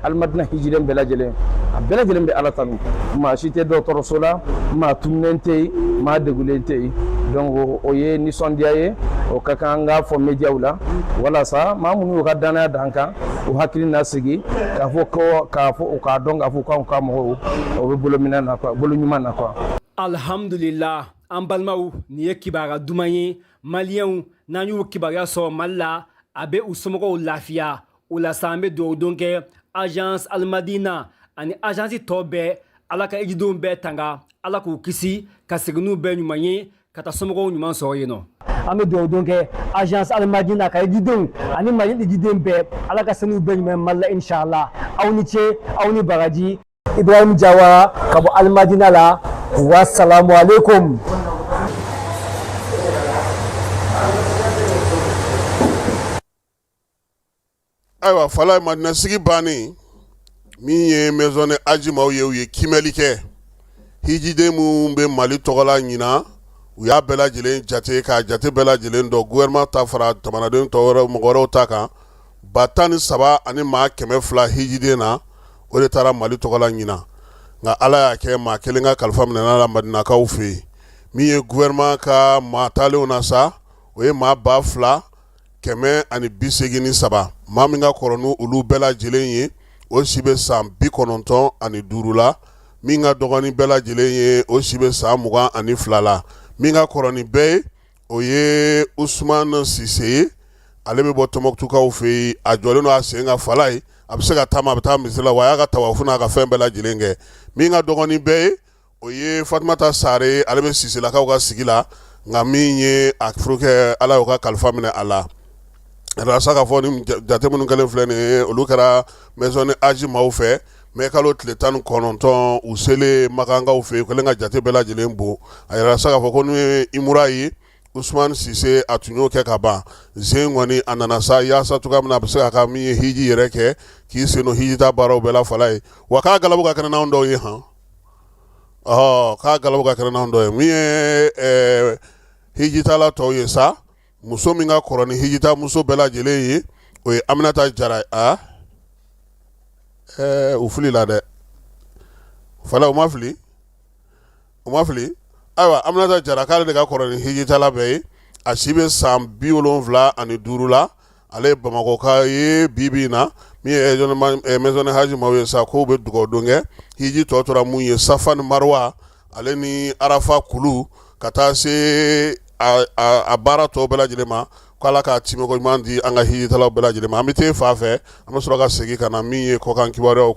alimadina hijiden bɛɛ lajɛlen a bɛɛ lajɛlen bɛ ala tanu maa si tɛ dɔgɔtɔrɔso la maa tununnen tɛ yen maa degulen tɛ yen donc o ye nisɔndiya ye o ka kan an k'a fɔ mediyaw la walasa maa minnu y'u ka dannaya d'an kan u hakili na sigi k'a fɔ u k'a dɔn k'a fɔ k'anw ka mɔgɔw o bɛ bolo ɲuman na quoi. alhamdulillah an balimaw nin ye kibaruya duman ye maliyɛnw n'an y'u kibaruya sɔrɔ mali la a bɛ u somɔgɔw lafiya o la sa an bɛ dugawu don kɛ agence alimadina ani agence tɔ bɛɛ ala ka hijidenw bɛɛ tanga ala k'u kisi ka segin n'u bɛɛ ɲuman ye ka taa somɔgɔw ɲuman sɔrɔ yen nɔ an bɛ dugawu don kɛ agence alimadina ka hijidenw ani mali hijiden bɛɛ ala ka segin n'u bɛɛ ɲuman ye mali la inshallah aw ni ce aw ni baraji ibrahim jawara ka bɔ alimadina la wasalamu alaikum Ayiwa falayi madina sigi bannen min ye maison du hadj maaw ye u ye kiimɛli kɛ hijiden minnu bɛ mali tɔgɔla ɲinan u y'a bɛɛ lajɛlen jate k'a jate bɛɛ lajɛlen dɔn gouvernement ta fara jamanaden tɔw mɔgɔ wɛrɛw ta kan ba tan ni saba ani maa kɛmɛ fila hijiden na o de taara mali tɔgɔla ɲinan nka ala y'a kɛ maa kelen ka kalifa minɛn'a la madinakaw fɛ yen min ye gouvernement ka maa taalenw na sa o ye maa ba fila kɛmɛ ani bi segin ni saba maa min ka kɔrɔ n'olu bɛɛ lajɛlen ye o si bɛ san bi kɔnɔntɔn ani duuru la min ka dɔgɔ ni bɛɛ lajɛlen ye o si bɛ san mugan ani fila la min ka kɔrɔ ni bɛɛ ye o ye usman sise ye ale bɛ bɔ tɔnbukutukaw fɛ yen a jɔlen don a sen kan falayi a bɛ se ka taama a bɛ taa misiri la wa a y'a ka tawafu n'a ka fɛn bɛɛ lajɛlen kɛ min ka dɔgɔ ni bɛɛ ye o ye fatumata sare ale bɛ siselakaw ka sigi la nka min ye a furukɛ ala y'o ka kalifa minɛ a la arasa k'a fɔ nin jate minnu kɛlen filɛ nin ye olu kɛra maison du hadj maaw fɛ mɛ kalo tile tan ni kɔnɔntɔn u selen makankaw fɛ yen u kɛlen ka jate bɛɛ lajɛlen dɔn a yɛrɛ sa k'a fɔ ko n'o ye umura ye usman sise a tun y'o kɛ ka ban zen kɔni a nana sa yaasa cogoya min na a bɛ se ka ka min ye hiji yɛrɛ kɛ k'i sen don hijitaa baaraw bɛɛ la falayi wa k'a galabu ka kɛnɛ n'anw dɔw ye hɔn ɔ k'a galabu ka kɛnɛ n'anw dɔ ye min ye ɛɛ hijitala tɔw ye sa muso min ka kɔrɔ ni hijita muso bɛɛ lajɛlen ye o ye Aminata Jara ye a ɛɛ u filila dɛ fala u ma fili u ma fili ayiwa Aminata Jara k'ale de ka kɔrɔ ni hijitala bɛɛ ye a si bɛ san bi wolonwula ani duuru la ale ye bamakɔka ye bi bi in na min ye maison de haji maaw ye sa k'u bɛ dugawu don kɛ hiji tɔ tora mun ye safa ni marwa ale ni arafa kulu ka taa se a a a baara tɔw bɛɛ lajɛlen ma ko Ala k'a timiko ɲuman di an ka hijitalaw bɛɛ lajɛlen ma an bɛ t'e fan fɛ an bɛ sɔrɔ ka segin ka na min ye kɔkan kibaruyaw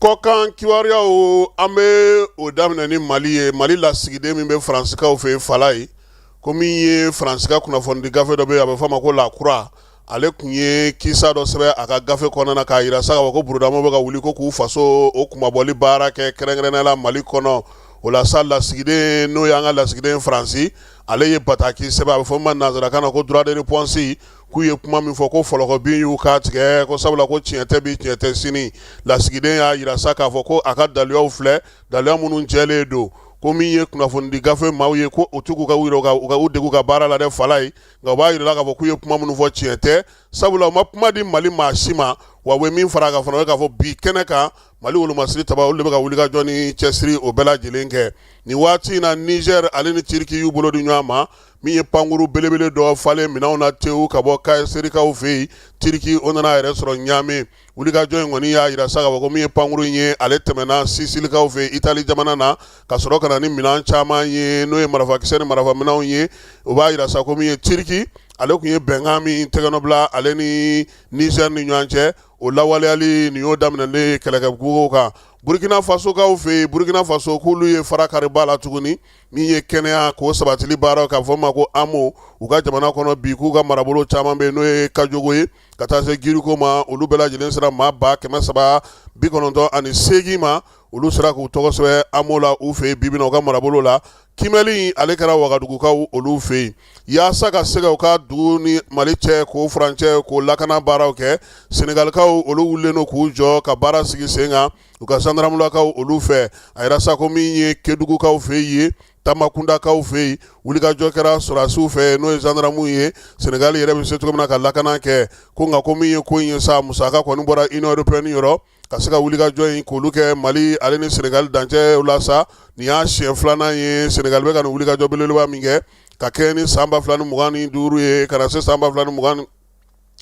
Kɔkan kibaruyaw an bɛ o daminɛ ni mali ye mali lasigiden min bɛ faransikaw fɛ yen fala ye ko min ye faransi ka kunnafonidi gafe dɔ a bɛ fɔ a ma ko La Croix ale tun ye kisa dɔ sɛbɛn a ka gafe kɔnɔna na k'a jira sa ko burudamaw bɛ ka wuli ko k'u faso o kunmabɔli baara kɛ kɛrɛnkɛrɛnnenya la mali kɔnɔ o la sa lasigiden n'o y'an ka lasigiden faransi ale ye bataki sɛbɛn a bɛ fɔ min ma nansarakan na ko droit de réponse k'u ye kuma min fɔ ko fɔlɔkɔbin y'u k'a tigɛ ko sabula ko tiɲɛ tɛ bi tiɲɛ tɛ sini lasigiden y'a jira sa k'a fɔ ko a ka daluyaw filɛ daluya minnu jɛlen don ko min ye kunnafonidi gafe maaw ye ko u tugu ka u degu ka baara la dɛ fala ye nka u b'a jira k'a fɔ k'u ye kuma minnu fɔ tiɲɛ tɛ sabula u ma kuma di mali maa si ma wa u ye min fara a kan fana o ye k'a fɔ bi kɛnɛ kan mali wolomasiri taba olu de bɛ ka wulikajɔ ni cɛsiri o bɛɛ lajɛlen kɛ nin waati in na nizɛri ale ni tiriki y'u bolo di ɲɔgɔn ma min ye pankurun belebele dɔ falen minɛnw na tewu ka bɔ kaserikaw fɛ yen tiriki o nana a yɛrɛ sɔrɔ ɲamɛ wulikajɔ in kɔni y'a jira sa ko min ye pankurun in ye ale tɛmɛna sisilikaw fɛ itali jamana na ka sɔrɔ ka na ni minɛn caman ye n'o ye marafakisɛ ni marafaminɛnw ye o b'a jira sa ko min ye tiriki ale tun ye bɛnkan min tɛgɛnɔbila ale ni nizɛri ni ɲɔgɔn cɛ o lawaleyali nin y'o daminɛlen kɛlɛkɛbugu kan burukina fasokaw fɛ yen burukina faso k'olu ye fara kariba la tuguni min ye kɛnɛyako sabatili baaraw kɛ a fɔ min ma ko amu u ka jamana kɔnɔ bi k'u ka marabolo caman bɛ n'o ye kajogo ye ka taa se giriko ma olu bɛɛ lajɛlen sera maa ba kɛmɛ saba bi kɔnɔntɔn ani segin ma olu sera k'u tɔgɔ sɛbɛn amu la u fɛ yen bi bi in na u ka marabolo la kimɛli ale kɛra wagadugukaw olu fɛ yen yaasa ka se ka u ka dugu ni mali cɛ k'o furancɛ k'o lakana baaraw kɛ senegalikaw olu wulilen don k'u jɔ ka baara sigi sen kan u ka zandaramulakaw olu fɛ a jira sa ko min ye kedugukaw fɛ yen tamakundakaw fɛ yen wulikajɔ kɛra sɔrɔdasiw fɛ n'o ye zandaramuw ye senegali yɛrɛ bɛ se cogo min na ka lakana kɛ ko nka ko min ye ko in ye sa musaka kɔni bɔra union européenne yɔrɔ ka se ka wulikajɔ in k'olu kɛ mali ale ni senegali dancɛ la sa nin y'a siɲɛ filanan ye senegali bɛ ka nin wulikajɔ belebeleba min kɛ ka kɛɲɛ ni san ba fila ni mugan ni duuru ye ka na se san ba fila ni mugan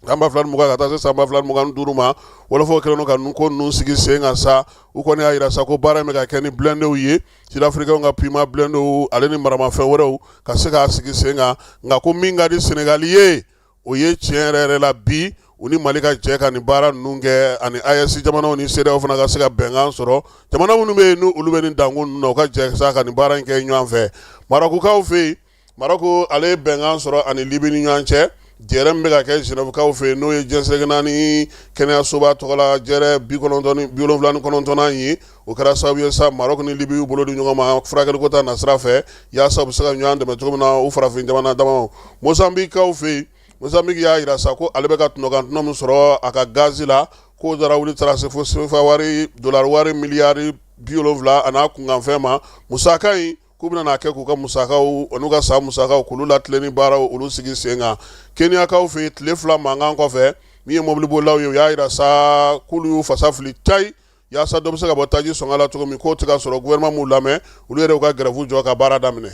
San ba fila ni mugan ka taa se san ba fila ni mugan ni duuru ma wɔlɔfɔw kɛlen don ka ninnu ko ninnu sigi sen kan sa, u kɔni y'a jira sa ko baara in bɛ ka kɛ ni blindés ye, sud africains ka Puma blindés ale ni maramafɛn wɛrɛw ka se k'a sigi sen kan, nka ko min ka di Senegal ye, o ye tiɲɛ yɛrɛ yɛrɛ la bi u ni Mali ka jɛ ka nin baara ninnu kɛ ani AES jamanaw ni CEDEAO fana ka se ka bɛnkan sɔrɔ, jamana minnu bɛ yen n'olu bɛ nin dankun ninnu na, u ka jɛ sa ka nin baara in kɛ ɲɔgɔn fɛ Marɔkukaw fɛ yen. Marɔku ale ye bɛnkan sɔrɔ ani libi ni ɲɔgɔn cɛ jɛrɛ min bɛ ka kɛ Genèvekaw fɛ yen n'o ye diɲɛ seleke naani kɛnɛyasoba tɔgɔ la jɛrɛ bi wolonwula ni kɔnɔntɔnnan ye o kɛra sababu ye sa Marɔku ni libi y'u bolo di ɲɔgɔn ma furakɛliko ta nasira fɛ yaasa u bɛ se ka ɲɔgɔn dɛmɛ cogo min na u farafin jamana damaw mozanbikikaw fɛ yen mozanbiki y'a jira sa ko ale bɛ ka tɔnɔkan tɔnɔ min sɔrɔ a ka gazi la k'o taara wuli taara se fo sefa wari dolari wari miliyari bi wolonwula a n'a kunkanfɛn ma musaka in k'u bɛna a kɛ k'u ka musakaw n'u ka san musakaw k'olu latilen ni baaraw olu sigi sen kan keniyakaw fɛ yen tile fila mankan kɔfɛ min ye mɔbilibolilaw ye u y'a jira sa k'olu y'u fasa fili tayi yaasa dɔ bɛ se ka bɔ taji sɔngɔ la cogo min k'o tɛ ka sɔrɔ gouvernement m'u lamɛn olu yɛrɛ y'u ka grève jɔ ka baara daminɛ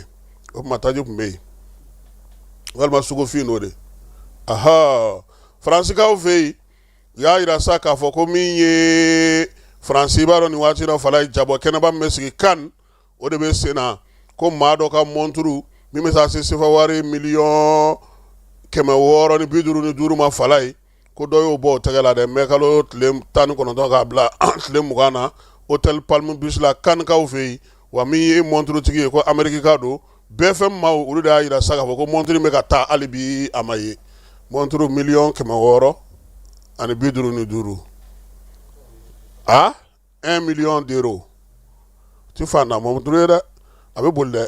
o tuma taji tun bɛ yen walima sugufin n'o de aha faransikaw fɛ yen u y'a jira sa k'a fɔ ko min ye faransi b'a dɔn nin waati la fala ye jabɔ kɛnɛba min bɛ sigi Cannes o de bɛ sen na ko maa dɔ ka mɔnturu min bɛ taa se sefa wari miliyɔn kɛmɛ wɔɔrɔ ni bi duuru ni duuru ma fala ye ko dɔ y'o bɔ o tɛgɛ la dɛ mɛ kalo tile tan ni kɔnɔntɔn k'a bila tile mugan na hôtel Palm Beach la Canneskaw fɛ yen wa min ye mɔnturutigi ye ko amerikika don BFM maaw olu de y'a jira sa k'a fɔ ko mɔnturu in bɛ ka taa hali bi a ma ye mɔnturu miliyɔn kɛmɛ wɔɔrɔ ani bi duuru ni duuru a un million d'euros tɛ fantan mɔnturu ye dɛ a bɛ boli dɛ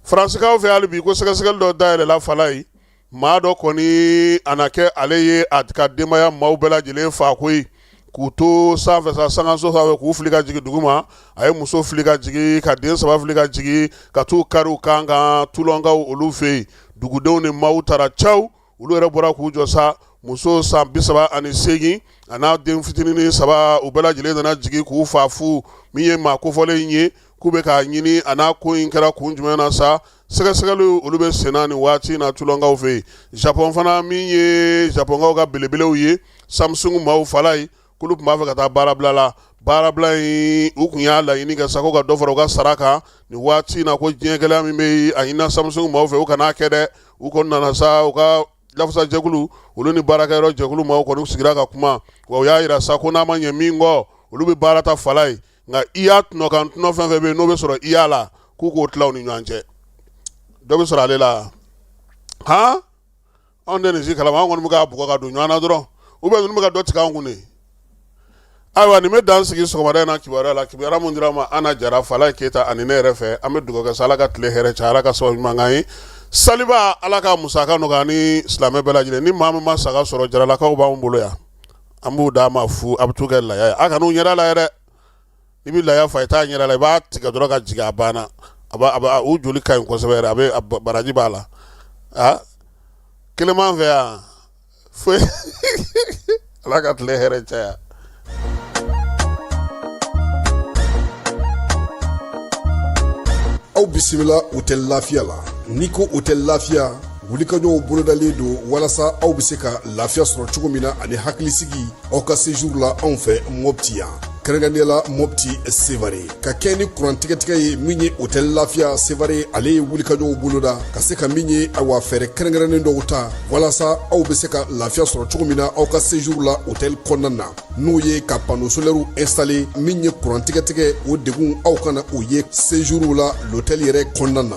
faransikaw fɛ hali bi ko sɛgɛsɛgɛli dɔ dayɛlɛla fala ye maa dɔ kɔni a na kɛ ale ye a ka denbaya maaw bɛɛ lajɛlen fa koyi k'u to sanfɛ sa sankanso sanfɛ k'u fili ka jigin dugu ma a ye muso fili ka jigin ka den saba fili ka jigin ka t'u kari u kan kan tulonkaw olu fɛ yen dugudenw ni maaw taara caw olu yɛrɛ bɔra k'u jɔ sa muso san bi saba ani seegin a n'a den fitinin saba u bɛɛ lajɛlen nana jigin k'u fa fu min ye maa kofɔlen in ye k'u bɛ k'a ɲini a n'a ko in kɛra kun jumɛn na sa sɛgɛsɛgɛliw olu bɛ senna nin waati na tulonkaw fɛ yen japɔn fana min ye japɔnkaw ka belebelew ye samsungu maaw fala ye k'olu tun b'a fɛ ka taa baarabila la baarabila in u tun y'a laɲini kɛ sa ko ka dɔ fara u ka sara kan nin waati in na ko diɲɛ gɛlɛya min bɛ yen a ɲinina Samsung maaw fɛ u kana a kɛ dɛ u kɔni nana sa u ka lafasajɛkulu olu ni baarakɛyɔrɔ jɛkulu maaw kɔni sigira ka kuma wa u y'a jira sa ko n'a ma ɲɛ min kɔ olu bɛ baara ta fala ye nka i y'a tɔnɔkan tɔnɔ fɛn fɛn bɛ yen n'o bɛ sɔrɔ i y'a la k'u k'o tila u ni ɲɔgɔn cɛ dɔ bɛ sɔrɔ ale la han Anw tɛ nin si kalama anw kɔni bɛ k'a bugɔ ka don ɲɔgɔn na dɔrɔn ou bien ninnu bɛ ka dɔ tigɛ anw kun de, ayiwa nin bɛ dan sigi sɔgɔmada in na kibaruya la kibaruya min dira aw ma Ana Jara, Falaye Keyita ani ne yɛrɛ fɛ an bɛ dugawu kɛ sa Ala ka tile hɛrɛ caya Ala ka sababu ɲuman k'an ye saliba Ala k'a musaka nɔgɔya an ni silamɛ bɛɛ lajɛlen ni maa min ma saga sɔrɔ jaralakaw b'anw bolo yan an b'u d'a ma fu a bɛ t'u kɛ laya ye a kan'u ɲɛda lajɛ dɛ i bɛ laya faa i t'a ɲɛda la i b'a tigɛ dɔrɔn k'a jigin a banna a u joli ka ɲi kosɛbɛ yɛrɛ a bɛ baraji b'a la aa kelen fɛ yan fo ala ka tile hɛrɛ caya aw bisimila otɛli lafiya la n'i ko otɛli lafiya wulikajɔw bolodalen don walasa aw bɛ se ka lafiya sɔrɔ cogo min na ani hakilisigi aw ka sejuru la anw fɛ mɔpti yan kɛrɛnkɛrɛnnenya la mɔpti sevare ka kɛɲɛ ni kurantigɛtigɛ ye min ye otɛli lafiya sevare ale ye wulikajɔw boloda ka se ka min ye awa fɛɛrɛ kɛrɛnkɛrɛnnen dɔw ta walasa aw bɛ se ka lafiya sɔrɔ cogo min na aw ka sejuru la otɛli kɔnɔna na n'o ye ka pano solɛriw instale min ye kurantigɛtigɛ o degun aw kana o ye sejuru la lotɛli yɛrɛ kɔnɔna na